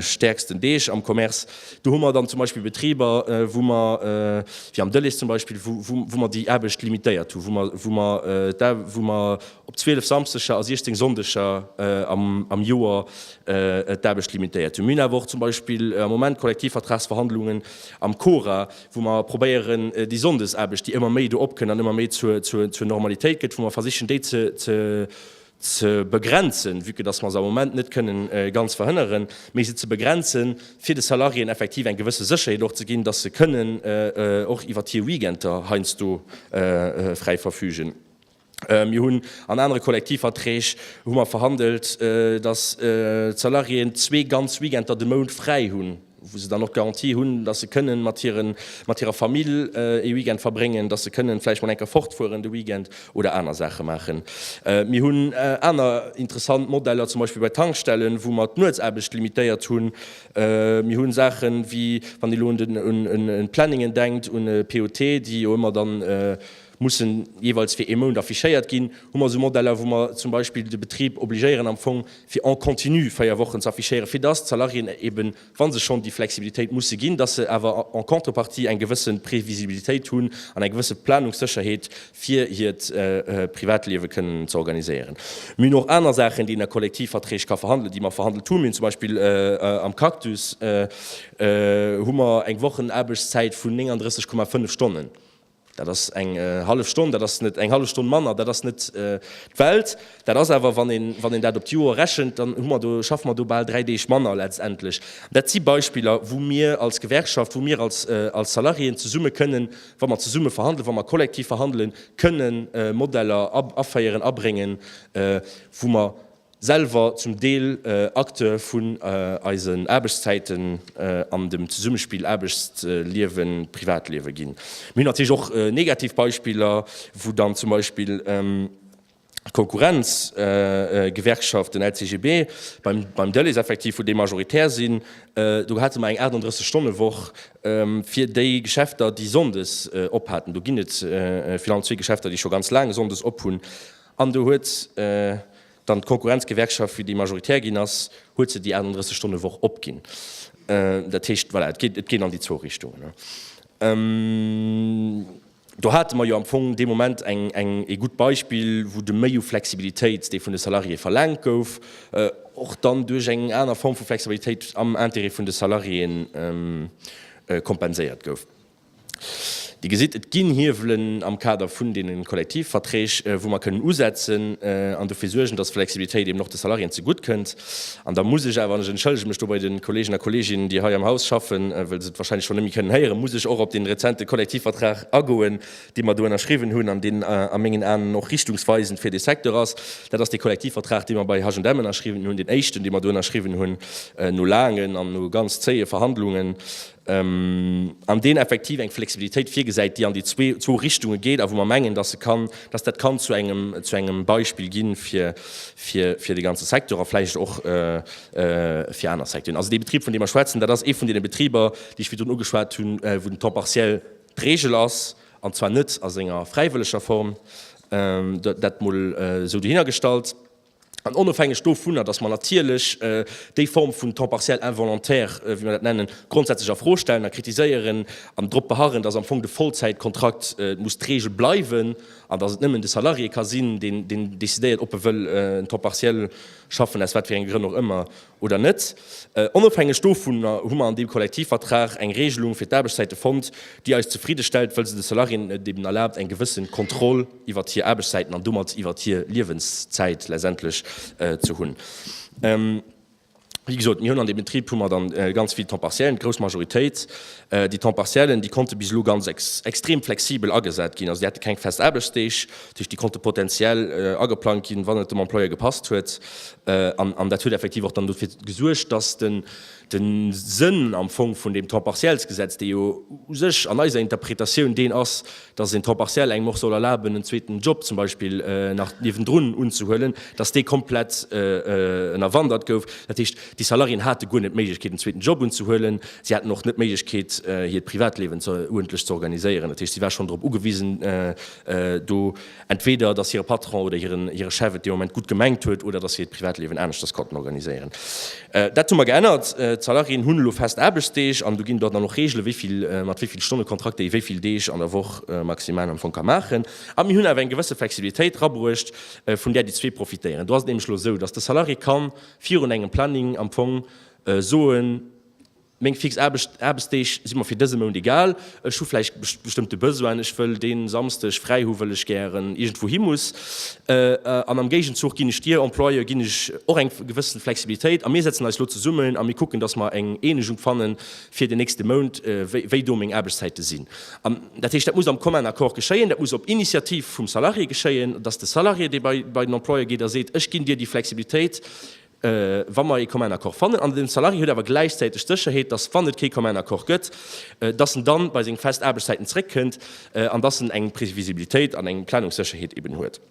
B: stäerksten Deeg am Commerce, do hu mer dann zum Beispill Betriber, wou mer, wéi am Dëllech zum Beispill, wou mer déi Aarbecht limitéiert hunn, wou mer, wou mer da, wou mer op 12 Samsdeger a 16 Sonndeger am Joer d'Aarbecht limitéiert hunn. Mir hunn awer och zum Beispill am Moment Kollektivvertragsverhandlungen am Cora, wou mer probéieren déi Sonndesaarbecht, déi ëmmer méi do opkënn an ëmmer méi zur Normalitéit gëtt, wou mer versichen déi ze begrenzen, vue que dass mer se am Moment net kënnen ganz verhënneren, mee se ze begrenzen, fir de Salariéen effektiv eng gewësse Sécherheet och ze ginn, dass se kënnen och iwwert hir Weekender heiansdo fräi verfügen. Mir hunn an anere Kollektivverträg hu mer verhandelt, datt d'Salariéen zwee ganz Weekender de Mount fräi hunn, wou se dann och d'Garantie hunn, datt se kënnen mat hiren, mat hirer Famill ee Weekend verbréngen, datt se kënnen vläicht mol eng Kéier fortfueren de Weekend oder aner Saache maachen. Mir hunn aner interessant Modeller, zum Beispill bei Tankstellen, wou mer d'Nuetsaarbecht limitéiert hunn. Mir hu Saache wéi, wann ee lo un e Planningen denkt, un e POT, déi jo ëmmer dann, mussen jeeweils fir ee Mount affichéiert ginn, hu mer esou Modeller, wou mer zum Beispill de Betrib obligéieren am Fong fir en continu véier Wochen ze affichéieren, fir dass d'Salariéen eeben, wa se schonn déi Flexibilitéit musse ginn, dass se awer en contrepartie eng gewësse Previsibilitéit hunn an eng gewësse Planungssécherheet, fir hiert Privatliewe kënnen ze organiséieren. Mir hunn och aner Saachen, déi een a Kollektivverträg ka verhandelen, déi mer verhandelt hunn. Mir hunn zum Beispill am Cactus hu mer eng Wochenaarbechtszäit vun 39,5 Stonnen. Dat ass eng hallef Stonn, dat ass net eng hallef Stonn manner, dat ass net d'Welt. Dat ass awer, wann een, wann een dat op d'Joer rechent, dann hu mer do, schaffe mer do bal dräi Deeg manner letztendlech. Dat si Beispiller, wou mir als Gewerkschaft, wou mir als, als Salariéen zesumme kënnen, wa mer zesumme verhandelen, wa mer kollektiv verhandelen, kënnen Modeller aféieren, abréngen, wou mer, selwer zum Deel Acteur vun eisen Aarbechtszäiten an dem Zesummespill Aarbechtsliewen-Privatliewe ginn. Mir hunn natierlech och negativ Beispiller, wou dann zum Beispill d'Konkurrenz-Gewerkschaft, den LCGB, beim Delaiss effektiv, wou déi majoritär sinn, do hate mer eng 38 Stonne Woch fir déi Geschäfter, déi sonndes op haten. Do ginn et vill an zwee Geschäfter, déi scho ganz laang sonndes op hunn. An do huet dann d'Konkurrenzgewerkschaft, wéi déi majoritär ginn ass, huet se déi 38 Stonne Woch opginn. Dat heescht, voilà, et geet, et geet an déi zwou Richtungen. Do hate mer jo am Fong dee Moment eng, eng, ee gutt Beispill, wou de Méi u Flexibilitéit, dee vun de Salariéeë verlaangt gouf, och dann duerch eng aner Form vu Flexibilitéit am Intérêt vun de Salariéeën kompenséiert gouf. Dir gesitt, et ginn Hiewelen am Kader vun deene Kollektivverträg, wou mer kënnen usetzen an dofir suergen, dass d'Flexibilitéit eeben och de Salariéen zegutt kënnt. An da muss ech awer, an ech entschëllege mech do bei de Kollegen a Kolleeginnen, déi hei am Haus schaffen, well se et wahrscheinlech scho net méi kënnen héieren, muss ech och op dee rezente Kollektivvertrag agoen, dee mer do ënnerschriwwen hunn an deen a mengen Aen och richtungsweisend fir dee Secteur ass. Dat ass dee Kollektivvertrag, dee mer bei H&M ënnerschriwwen hunn, deen éischten, dee mer do ënnerschriwwen hunn no laangen an no ganz zéie Verhandlungen. an deen effektiv eng Flexibilitéit virgesäit, déi an déi zwou Richtunge geet a wou mer mengen, dass dat kann zu engem Beispill gi fir de ganze Secteur a vläicht och fir aner Secteuren. Also dee Betrib, vun deem mer schwätzen, dat ass ee vun deene Betriber, déi ech virdrun ugeschwat hunn, wou den Temps partiel d'Regel ass, an zwar net a senger fräiwëlleger Form. Dat mol esou dohinnergestallt. An onofhängeg dovunner, dass mer natierlech déi Form vun temps partiel involontaire, wéi mer dat nennen, grondsätzlech a Fro stellen a kritiséieren an drop beharren, dass am Fong de Vollzäitkontrakt muss d'Regel bleiwen an dass et nëmmen de Salarié ka sinn, deen decidéiert, ob e wëll en temps partiel schaffen, aus wat fir enger Grënn och ëmmer. oder net. Onofhängeg dovun hu mer an deem Kollektivvertrag eng Regelung fir d'Aarbechtszäite fonnt, déi eis zefridde stellt, well se de Salariéen et eben erlaabt, eng gewëssen Kontroll iwwert hir Aarbechtszäiten an domat iwwert hir Liewenszäit letztendlech ze hunn. Wéi gesot, mir hunn an deem Betrib hu mer dann ganz vill Temps-partiellen, d'grouss Majoritéit. Déi Temps-partiellen, déi konnte bis elo ganz extrem flexibel agesat ginn, also déi hate keng fest Aarbechtsdeeg. Dat heescht, déi konnte potentiell ageplangt ginn, wann et dem Employeur gepasst huet. An dat huet effektiv och dann dofir gesuergt, dass de Sënn am Fong vun deem Temps-partiels-Gesetz, dee jo u sech an eiser Interpretatioun deen ass, dass een Temps partiel engem och soll erlaben, en zweeten Job zum Beispill nach niewendrun unzehuelen, dass dee komplett ënnerwandert gouf. Dat heescht, déi Salariéen hate guer net d'Méiglechkeet, en zweeten Job unzehuelen. Si haten och net d'Méiglechkeet, hiert Privatlewen uerdentlech ze organiséieren. Dat heescht, si war schonn drop ugewisen, do entweder dass hire Patron oder hiren hire Chef et dee Moment gutt gemengt huet oder dass si hiert Privatliewen aneschters konnten organiséieren. Dat hu mer geännert. D'Salariéen hunn elo fest Aarbechtsdeeg an do ginn et dann och Reegele wéi vill, mat wéi vill Stonnekontrakt déi wéi vill Deeg an der Woch maximal am Fong ka maachen. A mir hunn awer eng gewësse Flexibilitéit erabruecht, vun där déi zwee profitéieren. Do ass et nämlech elo esou, dass de Salarié ka virun engem Planning am Fong soen, Meng fix Aarbechtsdeeg si mer fir dëse Mount egal. Ech hu vläicht bestëmmte Besoinen, ech wëll dee Samsdeg fräi hu wëll ech gären iergendwou hi muss, an am Géigenzuch ginn ech dir Employë ginn ech och eng gewëssen Flexibilitéit a mir setzen eis elo zesummen a mir kucken, datt mer eng Eenegung fanne fir den nächste Mount, wéi do meng Aarbechtszäite sinn. Dat heescht, dat muss am Commun Accord geschéien, dat muss op Initiativ vum Salarié geschéien, datt de Salarié dee bei den Employë geet a seet, ech ginn dir déi Flexibilitéit, wa mer ee Commun Accord fannen, an den Salarié huet awer gläichzäiteg d'Sécherheet, dass, wann et kee Commun Accord gëtt, dass en dann bei seng fest Aarbechtszäiten zréckkënnt an dass en eng Previsibilitéit an eng Planungssécherheet eben huet.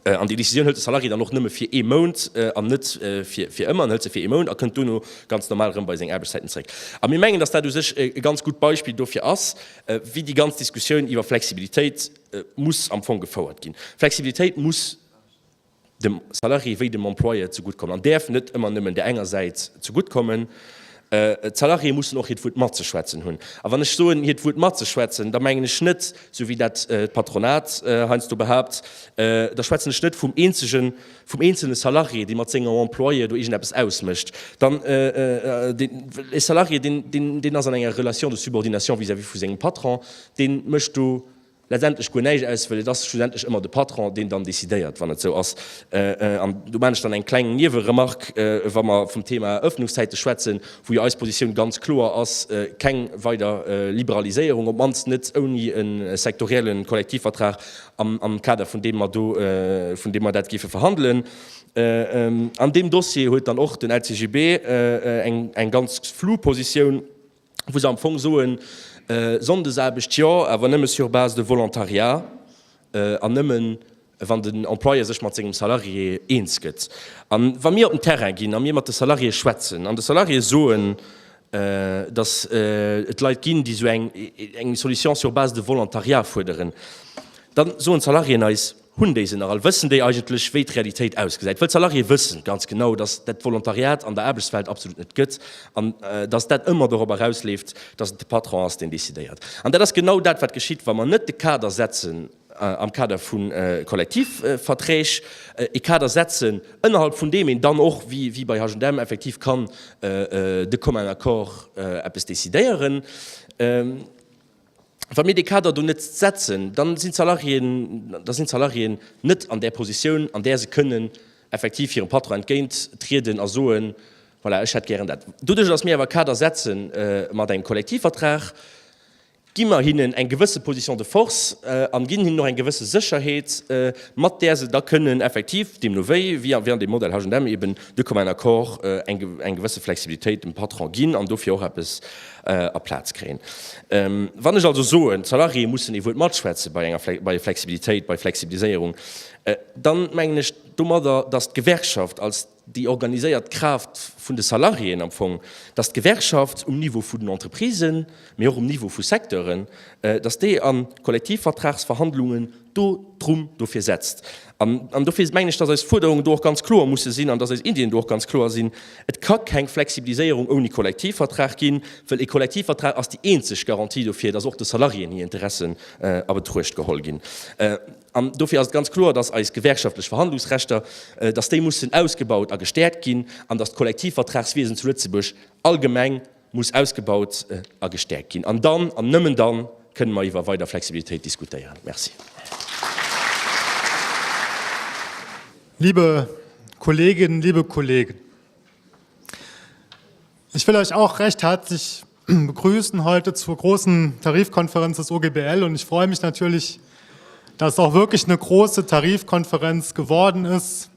B: An déi Décisioun hëlt de Salarié dann och nëmme fir ee Mount an net fir ëmmer. En hëlt se fir ee Mount a kënnt dono ganz normal erëm bei seng Aarbechtszäiten zréck. A mir mengen, dass dat u sech e ganz gutt Beispill dofir ass, wéi déi ganz Diskussioun iwwer Flexibilitéit muss am Fong gefouert ginn. Flexibilitéit muss. dem Salarié wéi dem Employeur zegutt kommen an däerf net ëmmer nëmmen där enger Säit zegutt kommen. D'Salariéë mussen och hiert Wuert matzeschwätzen hunn. A wann ech soen hiert Wuert matzeschwätzen, da mengen ech net, esou wéi dat d'Patronat heiansdo behaapt, da schwätzen ech net vum eenzege, vum eenzelne Salarié, dee mat sengem Employeur do iergendeppes ausmécht, dann deen, well e Salarié, deen, deen ass an enger Relation de subordination vis-à-vis vu sengem Patron, dee mécht do letztendlech guer näischt aus, well et ass schlussendlech ëmmer de Patron, deen dann decidéiert, wann et esou ass. An do maan ech dann eng kleng Nieweremarque, wa mer vum Thema Ëffnungszäite schwätzen, wou jo eis Positioun ganz kloer ass, keng weider Liberaliséierung, op d'mannst net ouni e sektorielle Kollektivvertrag am Kader vun deem mer do, vun deem mer dat géife verhandelen. An deem Dossier huet dann och den LCGB eng ganz flou Positioun. wou se am Fong soen, Sonndesaarbecht jo, awer nëmme sur base de Volontariat an nëmme wann den Employeur sech mat sengem Salarié eens gëtt. A wa mir op den Terrain ginn a mir mat de Salariéë schwätzen an de Salariéë soen, datt et Leit ginn, déi esou eng Solution sur base de Volontariat fuerderen, da soen d'Salariéen eis, Hunn déi se nach all? Wëssen déi eigentlech, wéi d'Realitéit ausgesäit? Wëll d'Salariéë wëssen ganz genau, datt dat d'Volontariat an der Aarbechtswelt absolut net gëtt an datt dat ëmmer dorop erausleeft, datt et de Patron ass, deen decidéiert. An dat ass genau dat, wat geschitt, wa mer net de Kader setzen am Kader vu Kollektivverträg, e Kader setzen, ënnerhalb vun deem een dann och, wéi bei H&M, effektiv kann de commun accord eppes decidéieren. Wa mir dee Kader do net setzen, da sinn d'Salariéen, da sinn d'Salariéen net an där Positioun, an där se kënnen effektiv hirem Patron entgéint trieden a soen, Voilà, ech hätt gären dat. Doduerch, datt mir awer e Kader setzen mat engem Kollektivvertrag, gi mer hinnen eng gewësse Position de force a ginn hinnen och eng gewësse Sécherheet, mat där se da kënnen effektiv, deemno wéi, wie an deem Modell H&M eben, de commun accord eng gewësse Flexibilitéit dem Patron ginn an dofir och eppes, a Plaz kréien. Wann ech also soen, d'Salariéë mussen ee Wuert matschwätze bei enger bei Flexibilitéit, bei Flexibiliséierung, da mengen ech domadder, datt d'Gewerkschaft als déi organiséiert Kraaft vun de Salariéen am Fong, datt d'Gewerkschaft um Niveau vun den Entreprisen, mee och um Niveau vu Secteuren, datt déi a Kollektivvertragsverhandlungen, do drum dofir setzt. An dofir mengen ech, dass eis Fuerderungen do och ganz kloer musse sinn an dass eis Iddien do och ganz kloer sinn. Et ka keng Flexibiliséierung ouni Kollektivvertrag ginn, well e Kollektivvertrag ass déi eenzeg Garantie dofir, dass och de Salariéen hir Interessen a Betruecht geholl ginn. An dofir ass et ganz kloer, dass eis gewerkschaftlech Verhandlungsrechter, dass déi mussen ausgebaut a gestäerkt ginn an dass d'Kollektivvertragswiesen zu Lëtzebuerg allgemeng, muss ausgebaut a gestäerkt ginn. An dann, an nëmmen dann, kënnen mer iwwer weider Flexibilitéit diskutéieren. Merci.
C: Liebe Kolleginnen, liebe Kollegen, ich will euch auch recht herzlich begrüßen heute zur großen Tarifkonferenz des OGBL und ich freue mich natürlich, dass auch wirklich eine große Tarifkonferenz geworden ist,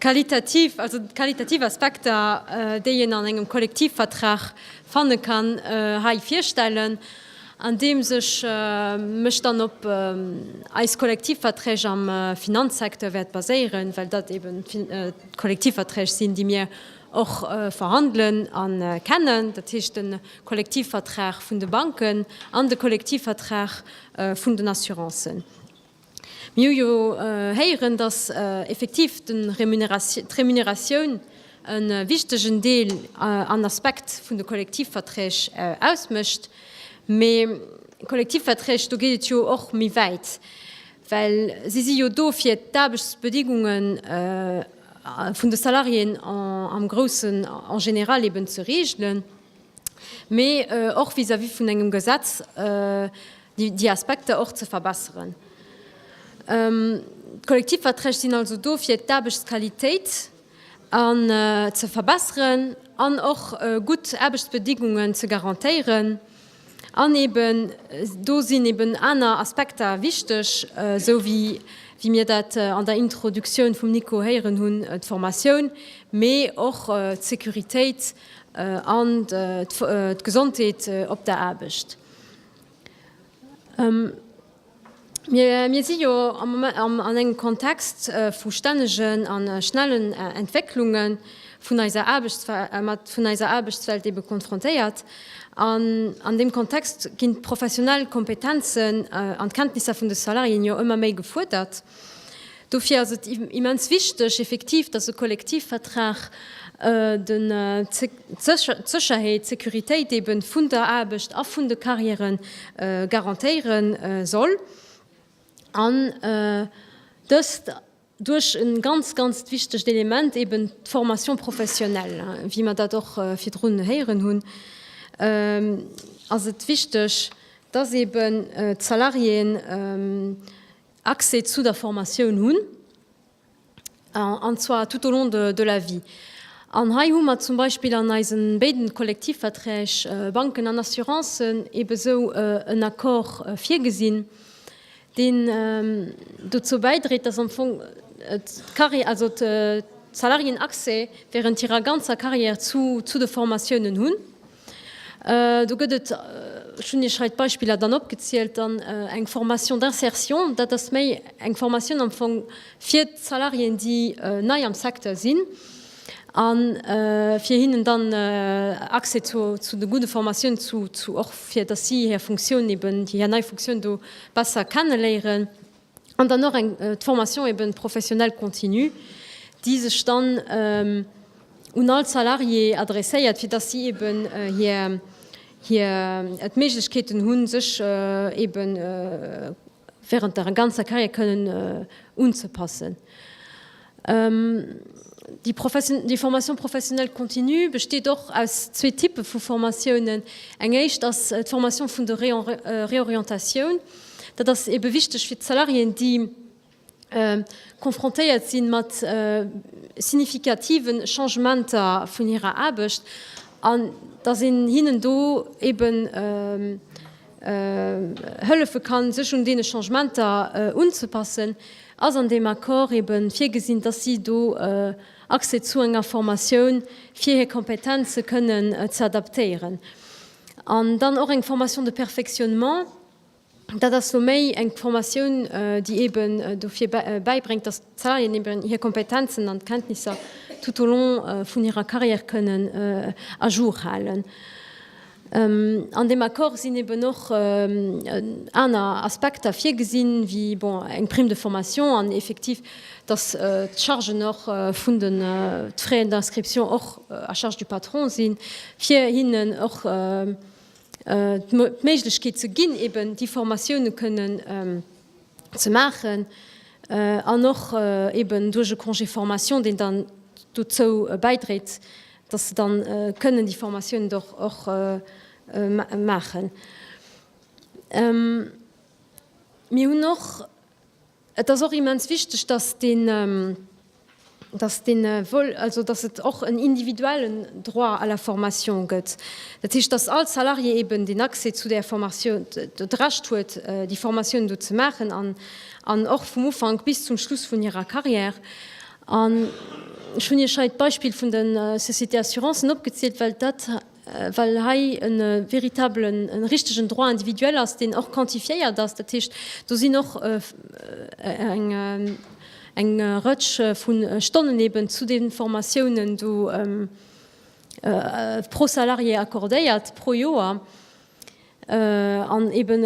D: D'qualitativ, also d'qualitativ Aspekter, déi een an engem Kollektivvertrag fanne kann, hei virstellen, andeems ech mech dann op eis Kollektivverträg am Finanzsecteur wäert baséieren, well dat eeben d'Kollektivverträg sinn, déi mir och verhandelen a kennen, dat heescht de Kollektivvertrag vun de Banken an de Kollektivvertrag vun den Assurancen. Mir hu jo héieren, dass effektiv d'Remuneratioun e wichtegen Deel an Aspekt vun de Kollektivverträg ausmécht. Mee Kollektivverträg, do geet et jo och méi wäit, well si si jo do, fir d'Aarbechtsbedingunge vun de Salariéen am Groussen, en général, eben ze reegelen. mee och vis-à-vis vun engem Gesetz déi Aspekter och ze verbesseren. D'Kollektivverträg sinn also do fir d'Aarbechtsqualitéit ze verbesseren an och gutt Aarbechtsbedingungen ze garantéieren. An eben do sinn eben aner Aspekter wichteg, esou wéi mir dat an der Introduktioun vum Nico héieren hunn, d'Formatioun, mee och d'Securitéit, an d'Gesondheet op der Aarbecht. Mir si jo an engem Kontext vu stännegen a schnellen Entwécklunge vun eiser Aarbechtswelt ebe konfrontéiert. An deem Kontext ginn d'professionell Kompetenzen an d'Kenntnisser vun de Salariéen jo ëmmer méi gefuerdert. Dofir ass et immens wichteg effektiv, dass e Kollektivvertrag d'Sécherheet, d'Sécuritéit eeben vun der Aarbecht a vun de Carrièrë garantéiere soll an dëst duerch e ganz, ganzt wichtegt Element, eeben d'Formation professionnelle. Wéi mer dat och virdrun héieren hunn, ass et wichteg, dass eeben d'Salariéen, Accès zu der Formatioun hunn, an zwar tout au long de la vie. An hei hu mer zum Beispill an eise béiden Kollektivverträg, Banken an Assurancen, eebe esou en Accord virgesinn, deen dozou bäidréit, dass am Fong d'Carri-, also d'Salariéen Accès während hirer ganzer Carrière zu de Formatiounen hunn. Do gëtt et, ech hunn Iech hei d'Beispiller dann opgezielt, dann eng Formation d'insertion. Dat ass méi eng Formatioun am Fong fir d'Salariéen, déi nei am Secteur sinn, a fir hinnen dann Accès zu de gudde Formatiounen ze, och fir dass si hir Funktioun eben, hir nei Funktioun do besser kenne léieren. An dann och d'Formation eben professionnelle continue, déi sech dann un all Salarié adresséiert, fir dass si eben hir d'Méiglechkeeten hunn, sech eben während der ganzer Carrière kënnen unzepassen. Déi Formation professionnelle continue besteet och aus zwee Typpe vu Formatiounen. Eng éischt ass d'Formation vun der Reorientatioun. Dat ass ebe wichteg fir d'Salariéen, déi confrontéiert si mat significative Changementer vun hirer Aarbecht, an dass een hinnen do ebe hëllefe kann, sech un deene Changementer unzepassen, ass an deem Accord eebe virgesinn, dass si do Accès zu enger Formatioun, fir hir Kompetenze kënnen ze adaptéieren. An dann och eng Formation de perfectionnement, dat ass elo méi eng Formatioun, déi eeben dofir bäibréngt, dass d'Salarieën eeben hir Kompetenzen an d'Kenntnisser tout au long vun hirer Carrière kënnen à jour halen. An deem Accord sinn eben och aner Aspekter virgesinn, wéi, bon, eng Prime de formation an effektiv, dass d'Chargen och vun de, d'Frais d'inscription och à charge du patron sinn, fir hinnen och d'Méiglechkeet ze ginn, eben déi Formatiounen kënnen ze maachen an och eben duerch e Congé formation, deen dann dozou bäidréit, dass se dann kënnen déi Formatiounen och och maachen. Mir hunn och, et ass och immens wichteg, dass dee, dass dee Vol, also dass et och en individuellen Droit à la formation gëtt, dat heescht, dass all Salarié eben den Accès zu där Formation, d'Recht huet déi Formatiounen do ze maachen an och vum Ufank bis zum Schluss vun hirer Carrière. An ech hunn Iech hei d'Beispill vun de Sociétés Assurancen opgezielt, well dat, well hei e veritabelen, e richtegen Droit individuel ass, deen och quantifiéiert ass. Dat heescht, do sinn och eng Rëtsch vu Stonnen eeben zu deenen Formatiounen do pro Salarié accordéiert, pro Joer. An eeben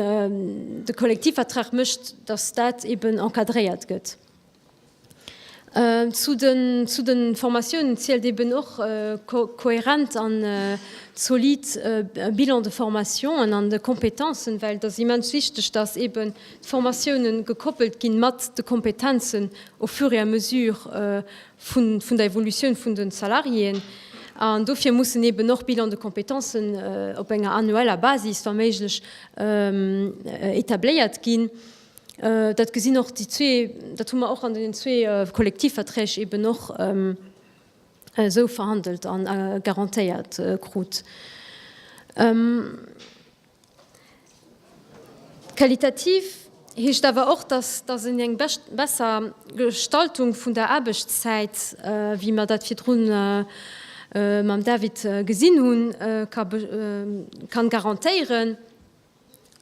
D: de Kollektivvertrag mécht, datt dat eeben encadréiert gëtt. Zu de Formatiounen zielt eben och e kohärent an zolid Bilan de formation an an de Kompetenzen, well et ass immens wichteg, dass eben d'Formatiounen gekoppelt ginn mat de Kompetenzen au fur et à mesure vun der Evolutioun vun de Salariéen. An dofir mussen eben och Bilans de compétence op enger annueller Basis wa méiglech etabléiert ginn. Dat gesinn och déi zwee, dat hu mer och an deenen zwee Kollektivverträg eben och esou verhandelt a garantéiert krut. Qualitativ heescht awer och, dass een eng besser Gestaltung vun der Aarbechtszäit, wéi mer dat virdru mam David gesinn hunn, ka garantéieren.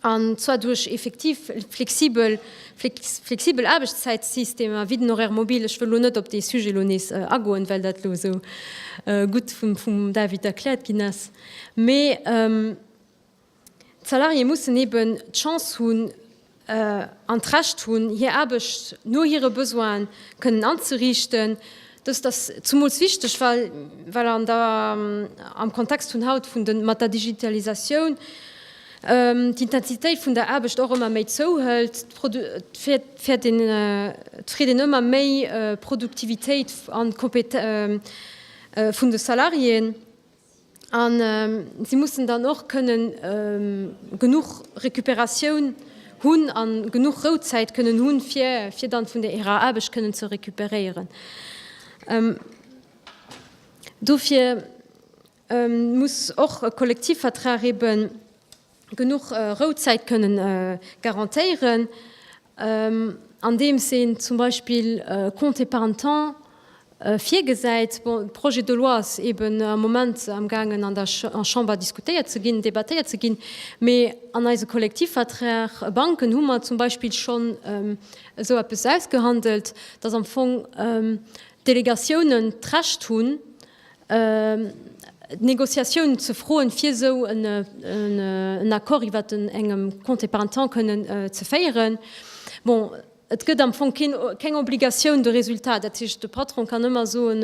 D: an zwar duerch effektiv flexibel flexibel Aarbechtszäitsystemer wéi den Horaire mobile. Ech wëll elo net op dee Sujet elo nees agoen, well dat elo esou gutt vum vum David erkläert ginn ass, mee d'Salariéeë mussen eben d'Chance hunn an d'Recht hunn, hir Aarbecht no hire Besoinen kënnen anzeriichten, Dëst ass zumools wichteg, well an der am Kontext vun haut vun de mat der Digitalisatioun d'Intensitéit vun der Aarbecht och ëmmer méi zouhëlt, d'Fir d'Fir een ëmmer méi Produktivitéit an Kompe vun de Salariéen. A si mussen dann och kënnen genuch Recuperatioun hunn a genuch Rouzäit kënnen hunn, fir fir dann vun der hirer Aarbecht kënnen ze recuperéieren. Dofir muss och e Kollektivvertrag eeben, genuch Rouzäit kënne garantéieren, andeems een zum Beispill e Compte épargne temps virgesäit. Bon, de Projet de loi ass eeben am Moment amgaangen an der Chamber diskutéiert ze ginn, debattéiert ze ginn, mee an eise Kollektivverträg e Banken hu mer zum Beispill schonn esou eppes ausgehandelt, dass am Fong d'Delegatiounen d'Recht hunn, d'Negociatioun ze froen, fir esou en Accord iwwert en engem Congé parental kënnen ze féieren. Bon, et gëtt am Fong keen, keng Obligatioun de résultat. Dat heescht, de Patron kann ëmmer soen,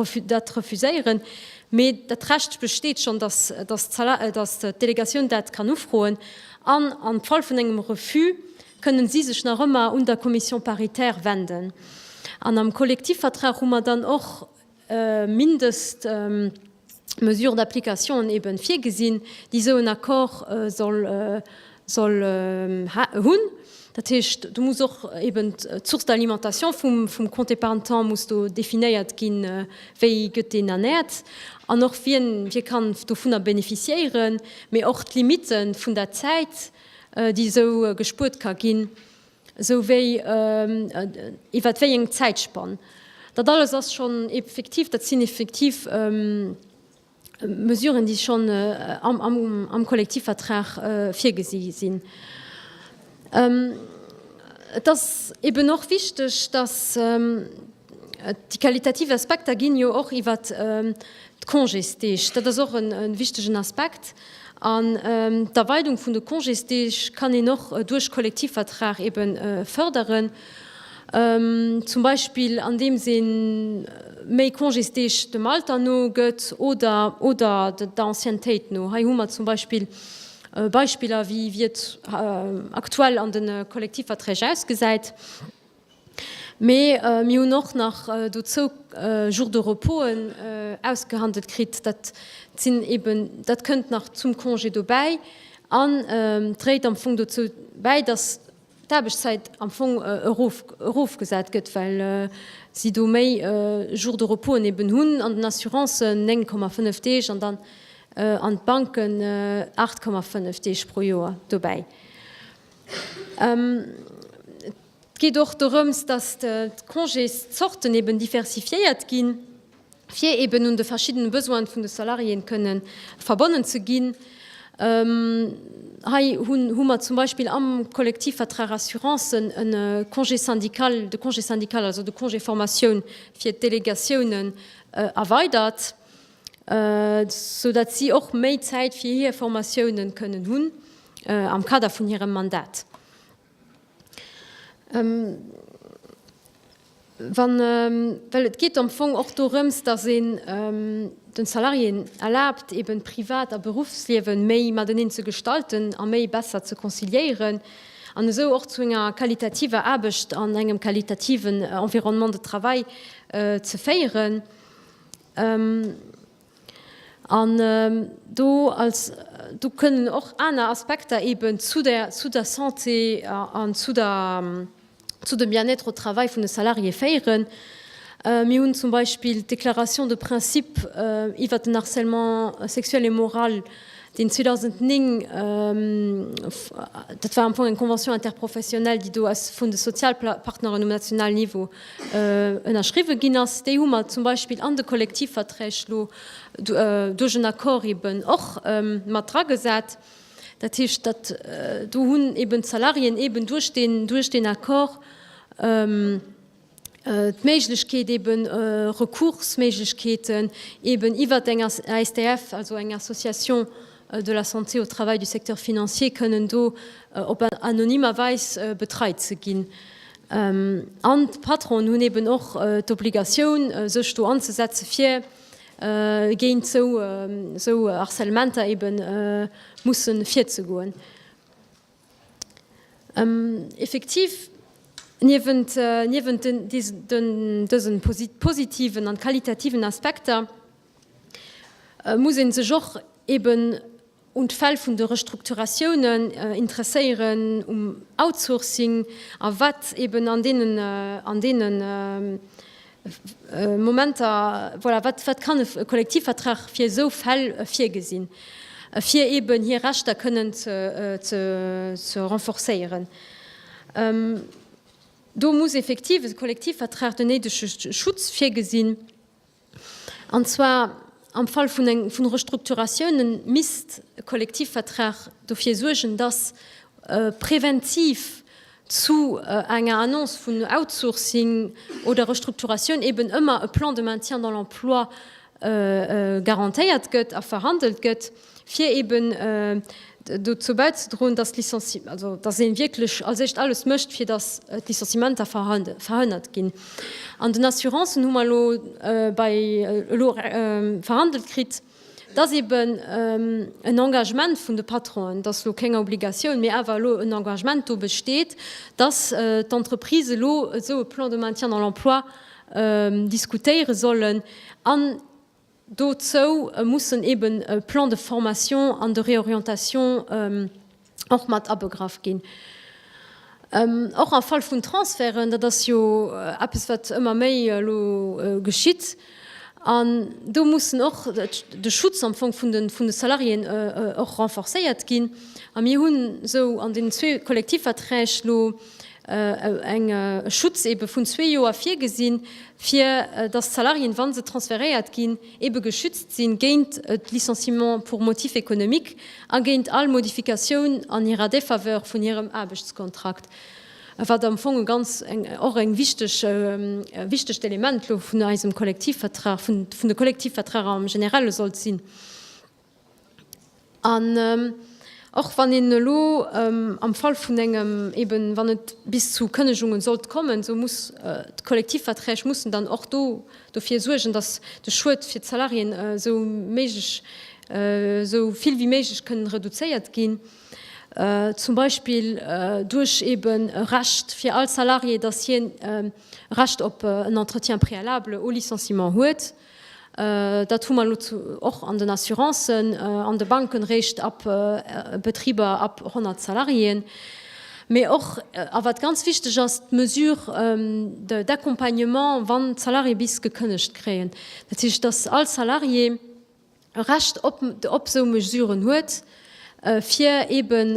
D: refu, dat refuséieren. Mee dat Recht besteet schonn, dass, dass d'Sala, dass d'Delegatioun dat kann ufroen. An am Fall vun engem Refus kënnen si sech nach ëmmer un der Commission paritaire wenden. An am Kollektivvertrag hu mer dann och Mindestmesure d'applicationen eben virgesinn, déi esou en Accord soll hunn. Dat heescht, do muss och eben d'Source d'alimentation vum Compte épargne temps muss do definéiert ginn, wéi gëtt deen ernährt an och wien wie kann dovunner bénéficiéieren, mee och d'Limite vun der Zäit, déi esou gespuert ka ginn. Esou wéi iwwert wéi eng Zäitspann. Dat alles ass schonn effektiv, dat sinn effektiv Mesuren, déi schonn am Kollektivvertrag virgesi sinn. Et ass eeben och wichteg, dass, Déi qualitativ Aspekter ginn jo och iwwer d'Congésdeeg. Dat ass och e wichtegen Aspekt. An d'Erweidung vun de Congésdeeg kann een och duerch Kollektivvertrag ebe förderen, zum Beispill andeems ee méi Congésdeeg dem Alter no gëtt oder der Anciennetéit no. Hei hu mer zum Beispill Beispiller, wéi et aktuell an de Kollektivverträg ausgesäit. Mee mir hunn och nach dozou Jours de reposen ausgehandelt kritt. Dat sinn eben, dat kënnt nach zum Congé dobäi an dréit am Fong dozou bäi, datt d'Aarbechtszäit am Fong erof, erofgesat gëtt, well si do méi Jours de reposen eben hunn. An den Assurancen 9,5 Deeg an dann an d'Banken 8,5 Deeg pro Joer dobäi. Et geet och dorëms, datt d'Congészorten eben diversifiéiert ginn, fir eben un de verschiddene Besoine vun de Salariéen kënne verbonnen ze ginn. Hei hu mer zum Beispill am Kollektivvertrag Assurancen e Congé syndical, de Congé syndical, also de Congé Formatioun fir d'Delegatiounen erweidert, sou datt si och méi Zäit fir hir Formatiounen kënnen hunn am Kader vun hirem Mandat. Well et geet am Fong och dorëms, datt een de Salariéen erlaabt, eben Privat a Berufsliewe méi mateneen ze gestalten a méi besser ze conciliéieren an esou och zu enger qualitativer Aarbecht an engem qualitativen Environnement de travail ze féieren. An do als, do kënnen och aner Aspekter eeben zu der, zu der Santé an zu der, zu dem Bien-être au travail vun de Salarié féieren. Mir hunn zum Beispill d'Déclaration de principe iwwert den Harcèlement sexuel et moral deen 2009, dat war am Fong eng Convention interprofessionnelle, déi do aus vun de Sozialpartneren um nationalen Niveau ënnerschriwwen ginn ass, déi hu mer zum Beispill an de Kollektivverträg elo duerch en Accord eeben och mat dragesat. Dat heescht, datt do hunn eeben d'Salariéen eeben duerch deen Accord, d'Méiglechkeet eben Recoursméiglechkeeten eben iwwert eng ASTF, also eng Association de la santé au travail du secteur financier, kënnen do op anonymer Weis betreit ze ginn. An d'Patronen hunn eben och d'Obligatioun, sech do anzesetzen, fir géint esou Harcèlementer eben mussen virzegoen. Effektiv, niewent dësen positiven an qualitativen Aspekter muss een sech och eben un d'Fäll vun de Restrukturatiounen interesséieren, um Outsourcing a wat eben an deenen Momenter, voilà, wat, wat kann e Kollektivvertrag fir esou Fäll virgesinn, fir eeben hir Rechter kënnen ze, ze, ze renforcéieren. Do muss effektiv e Kollektivvertrag den néidege Schutz virgesinn, an zwar am Fall vun eng, vun Restrukturatioune misst e Kollektivvertrag dofir suergen, datt preventiv zu enger Annonce vun Outsourcing oder Restrukturatioun eben ëmmer e Plan de maintien dans l'emploi garantéiert gëtt a verhandelt gëtt, fir eben dozou bäizedroen, datt ee wierklech als éischt alles mécht, fir datt d'Licenciementer verhënnert ginn. An den Assurancen hu mer elo verhandelt kritt, Et ass eben en Engagement vun de Patronen, dass elo keng Obligatioun, mee awer elo en Engagement do besteet, dass d'Entreprises elo esou e Plan de maintien dans l'emploi diskutéiere sollen an dozou mussen eben e Plan de formation an de réorientation och mat abegraff ginn. Och am Fall vun Transferten, dat ass jo eppes, wat ëmmer méi elo geschitt, an do muss och de Schutz am Fong vun de Salariéen och renforcéiert ginn. A mir hunn esou an deenen zwee Kollektivverträg elo e Schutz eebe vun zwee Joer virgesinn, fir datt d'Salariéen, wa se transferéiert ginn, ebe geschützt sinn géint d'Licenciement pour motif économique a géint all Modifikatioun an hirer Défaveur vun hirem Aarbechtskontrakt, wat am Fong e ganz och eng wichteg e wichtegt Element elo vun eisem Kollektivvertrag, vun de Kollektivvertrager am Generelle sollt sinn. An och wann een elo am Fall vun engem, eben wann et bis zu Kënnegungen sollt kommen, esou muss d'Kollektivverträg mussen dann och do dofir suergen, datt de Schued fir d'Salariéen esou méiglech, esou vill wéi méiglech kënnen reduzéiert ginn. Zum Beispill duerch eben e Recht fir all Salarié, datt hien e Recht op en Entretien préalable au licenciement huet. Dat hu mer elo och an den Assurancen, an de Banken, réischt ab Betriber ab 100 Salariéen. Mee och, a wat ganz wichteg ass, d'Mesure d'accompagnement, wann d'Salarié bis gekënnegt kréien. Dat heescht, dass all Salarié, e Recht op op esou Mesuren huet, fir eeben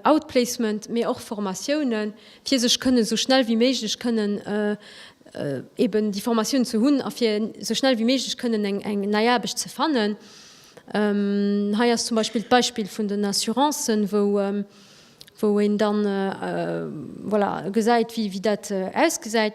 D: Outplacement, mee och Formatiounen, fir sech kënnen esou schnell wéi méiglech kënnen eeben déi Formatiounen ze hunn a fir esou schnell wéi méiglech kënnen eng eng nei Aarbecht ze fannen. Hei ass zum Beispill d'Beispill vun den Assurancen, wou wou een dann voilà gesäit, wéi wéi dat ausgesäit.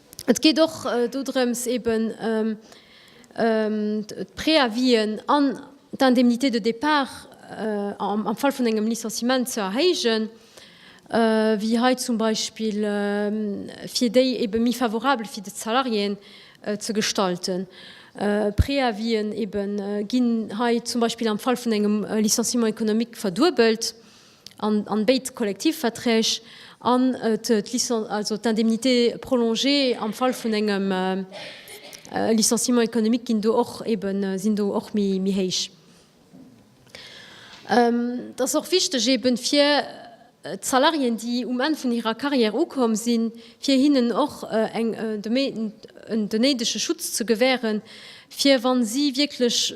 D: Et geet och dodrëms, eben d'Préavisen an d'Indemnité de départ am Fall vun engem Licenciement ze erhéijen, wéi hei zum Beispill, fir déi eben méi favorabel fir de Salarié ze gestalten. Préavisen eben ginn hei zum Beispill am Fall vun engem Licenciement économique verduebelt. an béid Kollektivverträg an d'Indemnité prolongée am Fall vun engem Licenciement économique sinn do och eeben méi héich. Et ass och wichteg eeben fir d'Salariéen, déi um Enn vun hirer Carrière ukomm sinn, fir hinnen och den néidege Schutz ze gewähren, fir wa si wierklech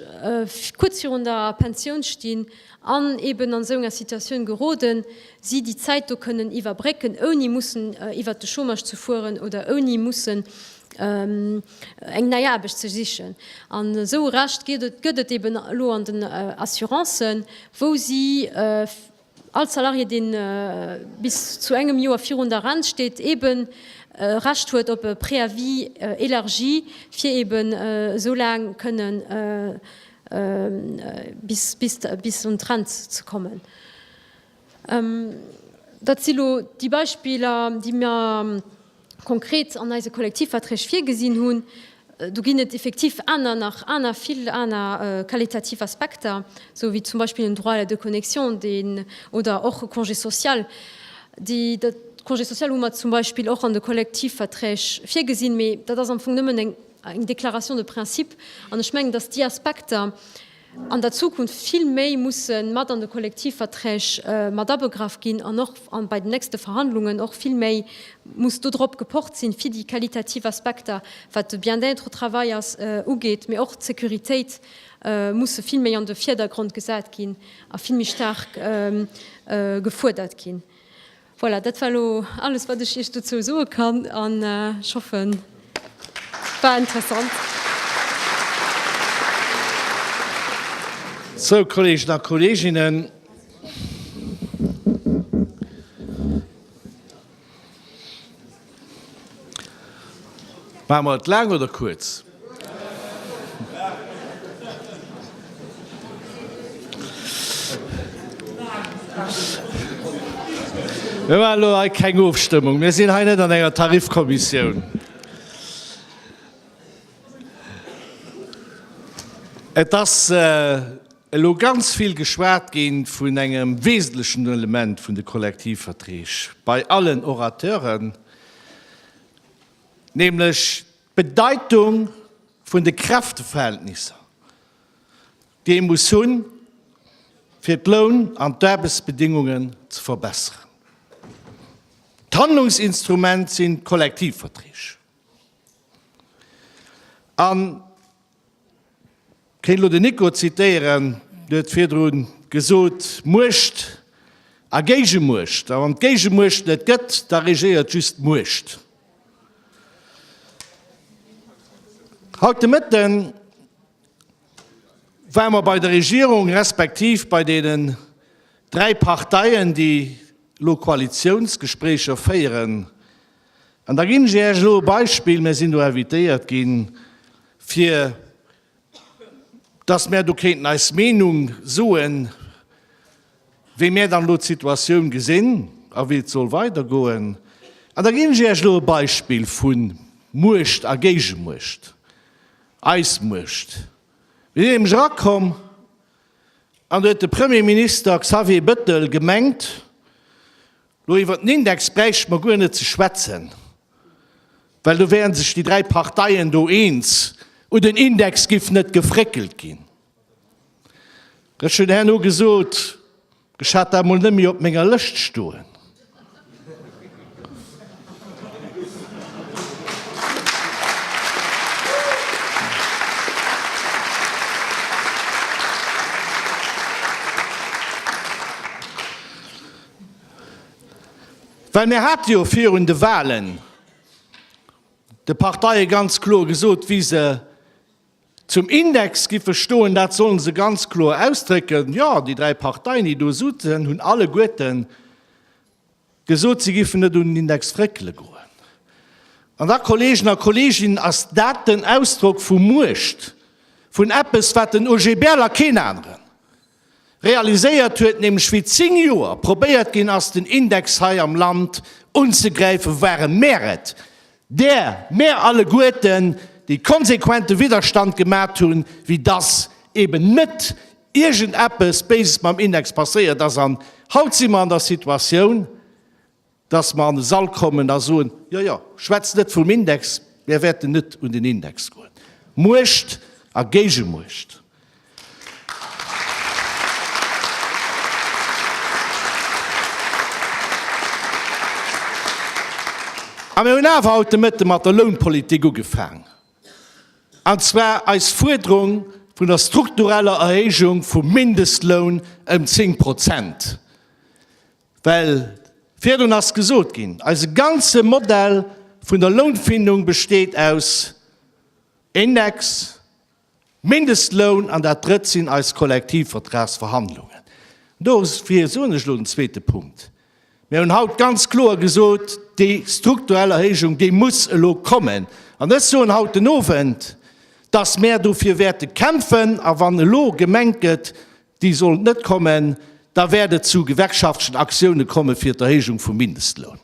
D: kuerz virun der Pensioun stinn, an eben an esou enger Situatioun geroden si, déi Zäit do kënnen iwwerbrécken, ouni mussen iwwert de Chômage ze fueren oder ouni mussen eng nei Aarbecht ze sichen. An esou e Recht gëtt et eben elo an den Assurancen, wou si all Salarié, dee bis zu engem Joer virun der Rent steet, eben e Recht huet op e Préavis élargi, fir eben esou laang kënnen bis un d'Trend ze kommen. Dat si lo déi Beispiller, déi mir konkret an eise Kollektivverträg virgesinn hunn. Do ginn et effektiv aner, nach aner, vill aner qualitativ Aspekter, esou wéi zum Beispill den Droit à la déconnexion, deen, oder och e Congé social, déi, de Congé social hu mer zum Beispill och an de Kollektivverträg virgesinn, mee dat ass am Fong nëmmen eng, eng Déclaration de principe, an ech mengen, dass déi Aspekter an der Zukunft vill méi musse mat an de Kollektivverträg mat abegraff ginn an och bei den nächste Verhandlungen och vill méi muss do drop gepocht sinn, fir déi qualitativ Aspekter, wat de Bien-être au travail ass, ugeet, mee och d'Sécuritéit musse vill méi an de Vierdergrond gesat ginn a vill méi staark gefuerdert ginn. Voilà, dat war elo alles, wat ech Iech dozou soe kann. An ech hoffen, et war interessant.
E: Sou, Kolleegen a Kolleeginnen, Maache mer et laang oder kuerz? Mir maachen elo hei keng Ofstëmmung. Mir sinn hei net an enger Tarifkommissioun. Et ass elo ganz vill geschwat ginn vun engem wesentlechen Element vun de Kollektivverträg bei allen Orateuren, nämlech d'Bedeitung vun de Kräfteverhältnisser, déi ee muss hunn, fir d'Loun an d'Aarbechtsbedingungen ze verbessern. D'Handlungsinstrument sinn d'Kollektivverträg. An. Kéint elo den Nico zitéieren, dee huet virdru gesot, Muecht a Géigemuecht, a wann d'Géigemuecht net gëtt, da regéiert just d'Muecht. Haut de Mëtte ware mer bei der Regierung, respektiv bei deenen dräi Parteien, déi elo Koalitiounsgespréicher féieren, An da ginn ech Iech elo e Beispill, Mir sinn do invitéiert ginn, fir dass mär do kéinten eis Meenung soen, wéi mär dann elo d'Situatioun gesinn a wéi et soll weidergoen. An da ginn ech Iech elo e Beispill vu Muecht a Géigemuecht, eis Muecht. Mir sinn nämlech erakomm an do huet de Premierminister Xavier Bettel gemengt, Lo iwwer den Index bräichte mer guer net ze schwätzen, well do wären sech déi dräi Parteien do eens, u den Index giff net gefréckelt ginn. Ech hunn herno gesot, ech hat dat mol net méi op menger Lëscht stoen. Well mir hate jo virun de Wahlen de Parteie ganz kloer gesot, wéi se zum Index géife stoen. Dat solle se ganz kloer ausdrécken. Jo, déi dräi Parteien, déi do sutzen, hunn alleguerte gesot, si géifen net un den Index réckele goen. An da, Kolleegen a Kolleeginnen, ass dat den Ausdrock vu Muecht, vun eppes, wat den OGBL a keen aneren realiséiert huet, nämlech wéi 10 Joer probéiert ginn ass den Index hei am Land unzegräifen, waren mär et, där mär alleguerten dee konsequente Widderstand gemat hunn, wéi dass eben net iergendeppes Béises mam Index passéiert ass. An haut si mer an der Situatioun, dass mer an e Sall kommen a soen, Jo, jo, schwätzt net vum Index, mär wäerten net un den Index goen. Muecht a Géigemuecht. A mir hunn awer haut de Mëtte mat der Lounpolitik ugefaangen, an zwar eis Fuerderung vun der struktureller Erhéijung vum Mindestloun ëm 10 Prozent. Well virdrun ass gesot ginn, eise ganze Modell vun der Lounfindung besteet aus Index, Mindestloun an dat Drëtt sinn eis Kollektivvertragsverhandlungen. Dofir soen ech elo den zweete Punkt, Mir hunn haut ganz kloer gesot, déi strukturell Erhéijung, déi muss elo kommen. An ech soen haut den Owend, dass mär dofir wäerte kämpfen. A wann elo gemengt gëtt, Déi sollen net kommen, da wäert et zu gewerkschaftlechen Aktioune komme fir d'Erhéijung vum Mindestloun.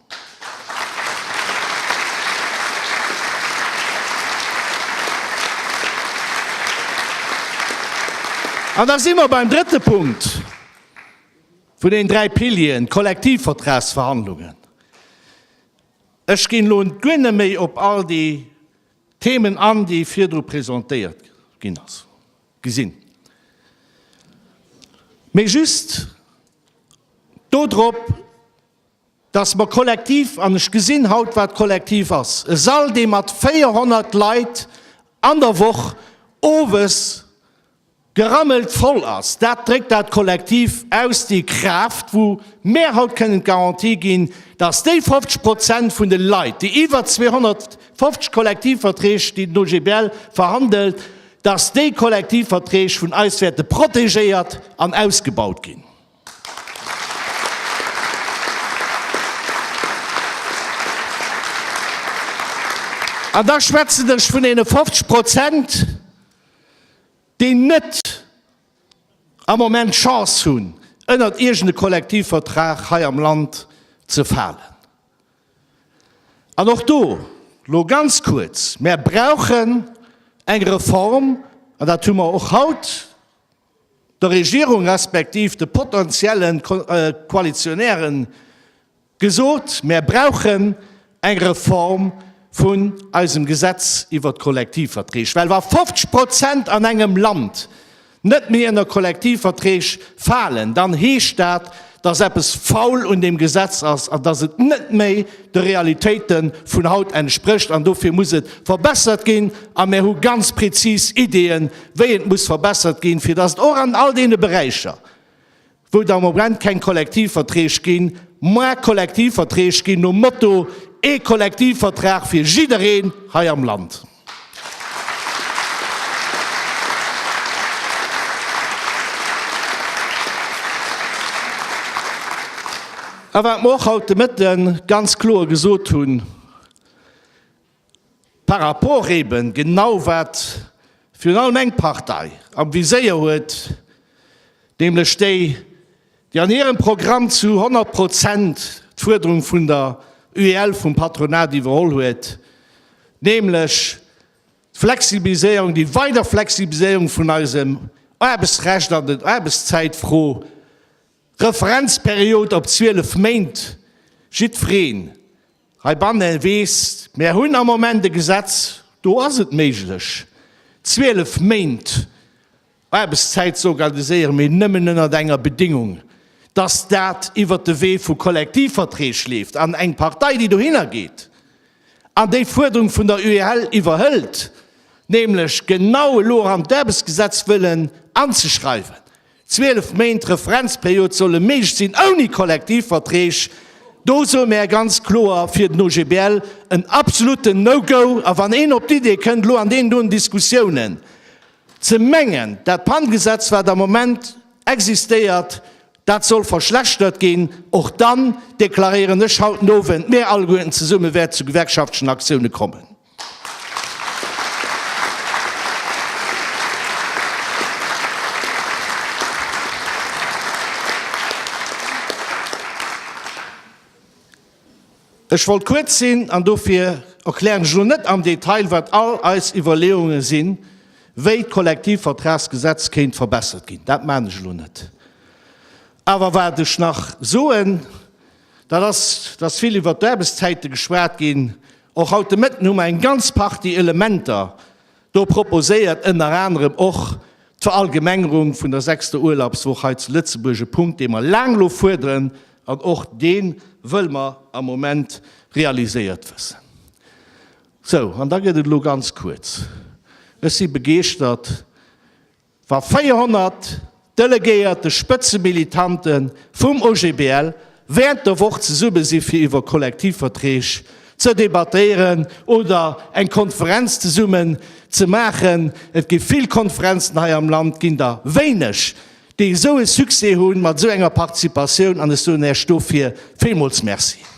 E: An da si mer beim drëtte Punkt vun den dräi Pilieren, d'Kollektivvertragsverhandlungen. Ech ginn elo guer net méi op all déi Themen an, déi virdru presentéiert ginn ass. Gesinn. Mee just do drop, dass mer kollektiv, an ech gesinn haut, wat kollektiv ass, e Sall, dee mat 400 Leit an der Woch owes gerammelt voll ass, dat dréckt dat kollektiv aus, déi Kraaft, wou mär haut kënnen d'Garantie ginn, dass déi 50 Prozent vun de Leit, déi iwwer 250 Kollektivverträg, déi den OGBL verhandelt, dass déi Kollektivverträg vun eis wäerte protegéiert an ausgebaut ginn. An da schwätzen ech vun deene 50 Prozent, déi net am Moment d'Chance hunn, ënnert iergende Kollektivvertrag hei am Land ze falen. An och do, lo ganz kuerz, Mär brauchen eng Reform, an dat hu mer och haut der Regierung respektiv de potentielle Koalitionäre gesot, Mär brauchen eng Reform vun eisem Gesetz iwwert d'Kollektivverträg, well wa 50 Prozent an engem Land net méi ënner Kollektivverträg falen, dann heescht dat, dass eppes faul un deem Gesetz ass an dass et net méi de Realitéite vun haut entsprécht. An dofir muss et verbessert ginn a mir hu ganz prezis Ideeën, wéi et muss verbessert ginn, fir dass et och an all deene Beräicher, wou et am Moment keng Kollektivverträg ginn, moins Kollektivverträg ginn, nom Motto, ee Kollektivvertrag fir jiddereen hei am Land. A wat mer och haut de Mëtten ganz kloer gesot hunn, Par rapport eben genau wat virun allem eng Partei am Viséier huet, nämlech déi, déi an hirem Programm zu 100 Prozent d'Fuerderung vun der UEL, vum Patronat iwwerholl huet, nämlech d'Flexibiliséierung, déi weider Flexibiliséierung vun eisem Aarbechtsrecht an der Aarbechtszäitfro, Referenzperiod op 12 Méint, jiddwereen, Heibannen weess, mär hunn am Moment e Gesetz, do ass et méiglech, 12 Méint Aarbechtszäit ze organiséieren, mee nëmmen ënnert enger Bedingung, dass dat iwwert de Wee vu Kollektivverträg leeft an eng Partei, déi dohinner geet an déi Fuerderung vun der UEL iwwerhëlt, nämlech genau elo erëm d'Aarbechtsgesetz wëllen anzeschreiwen. 12 Méint Referenzperiod solle méiglech sinn ouni Kollektivverträg. Do soe mär ganz kloer fir den OGBL en absoluten No-Go. A wann een op d'Idee kënnt, elo an deenen doen Diskussiounen ze mengen, dat Pantegesetz, wat am Moment existéiert, dat soll verschlechtert ginn, och dann deklaréieren ech haut den Owend, mir alleguerten zesumme wäerte zu gewerkschaftlechen Aktiounen kommen. Ech wollt kuerz sinn an dofir erklären ech elo net am Detail, wat all eis Iwwerleeunge sinn, wéi d'Kollektivvertragsgesetz kéint verbessert ginn. Dat maachen ech elo net. Awer wat ech nach soen, Dat ass, dass vill iwwert d'Aarbechtszäite geschwat ginn. Och haut de Mëtten hu mer eng ganz Partie Elementer do proposéiert, ënner anerem och d'Verallgemengerung vun der sechster Urlaubswoch hei zu Lëtzebuerg, e Punkt, dee mer laang elo fuerderen, an och dee wëlle mer am Moment realiséiert wëssen. Sou, an da gëtt et elo ganz kuerz. Ech si begeeschtert, Wa 400 delegéierte Spëtzemilitante vum OGBL während der Woch zesumme si fir iwwer Kollektivverträg ze debattéieren oder eng Konferenz zesummen ze maachen, et gi vill Konferenzen hei am Land, ginn der wéineg, déi esou e Succès hunn, mat esou enger Participatioun. An ech soen Iech dofir villmools Merci.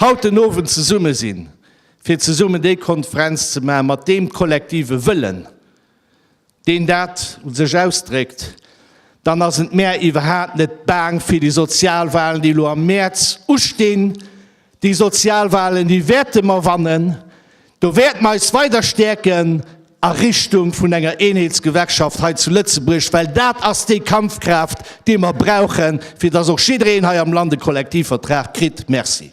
E: Haut den Owend zesumme sinn, fir zesummen déi Konferenz ze maachen, mat deem kollektive Wëllen, deen dat u sech ausdréckt, dann ass et mär iwwerhaapt net baang fir déi Sozialwahlen, déi elo am Mäerz ustinn. Déi Sozialwahlen, déi wäerte mer wannen. Do wäerte mer eis weider stäerken a Richtung vun enger Eenheetsgewerkschaft hei zu Lëtzebuerg, well dat ass déi Kampfkraaft, déi mer brauchen, fir dass och jiddereen hei am Land e Kollektivvertrag kritt. Merci.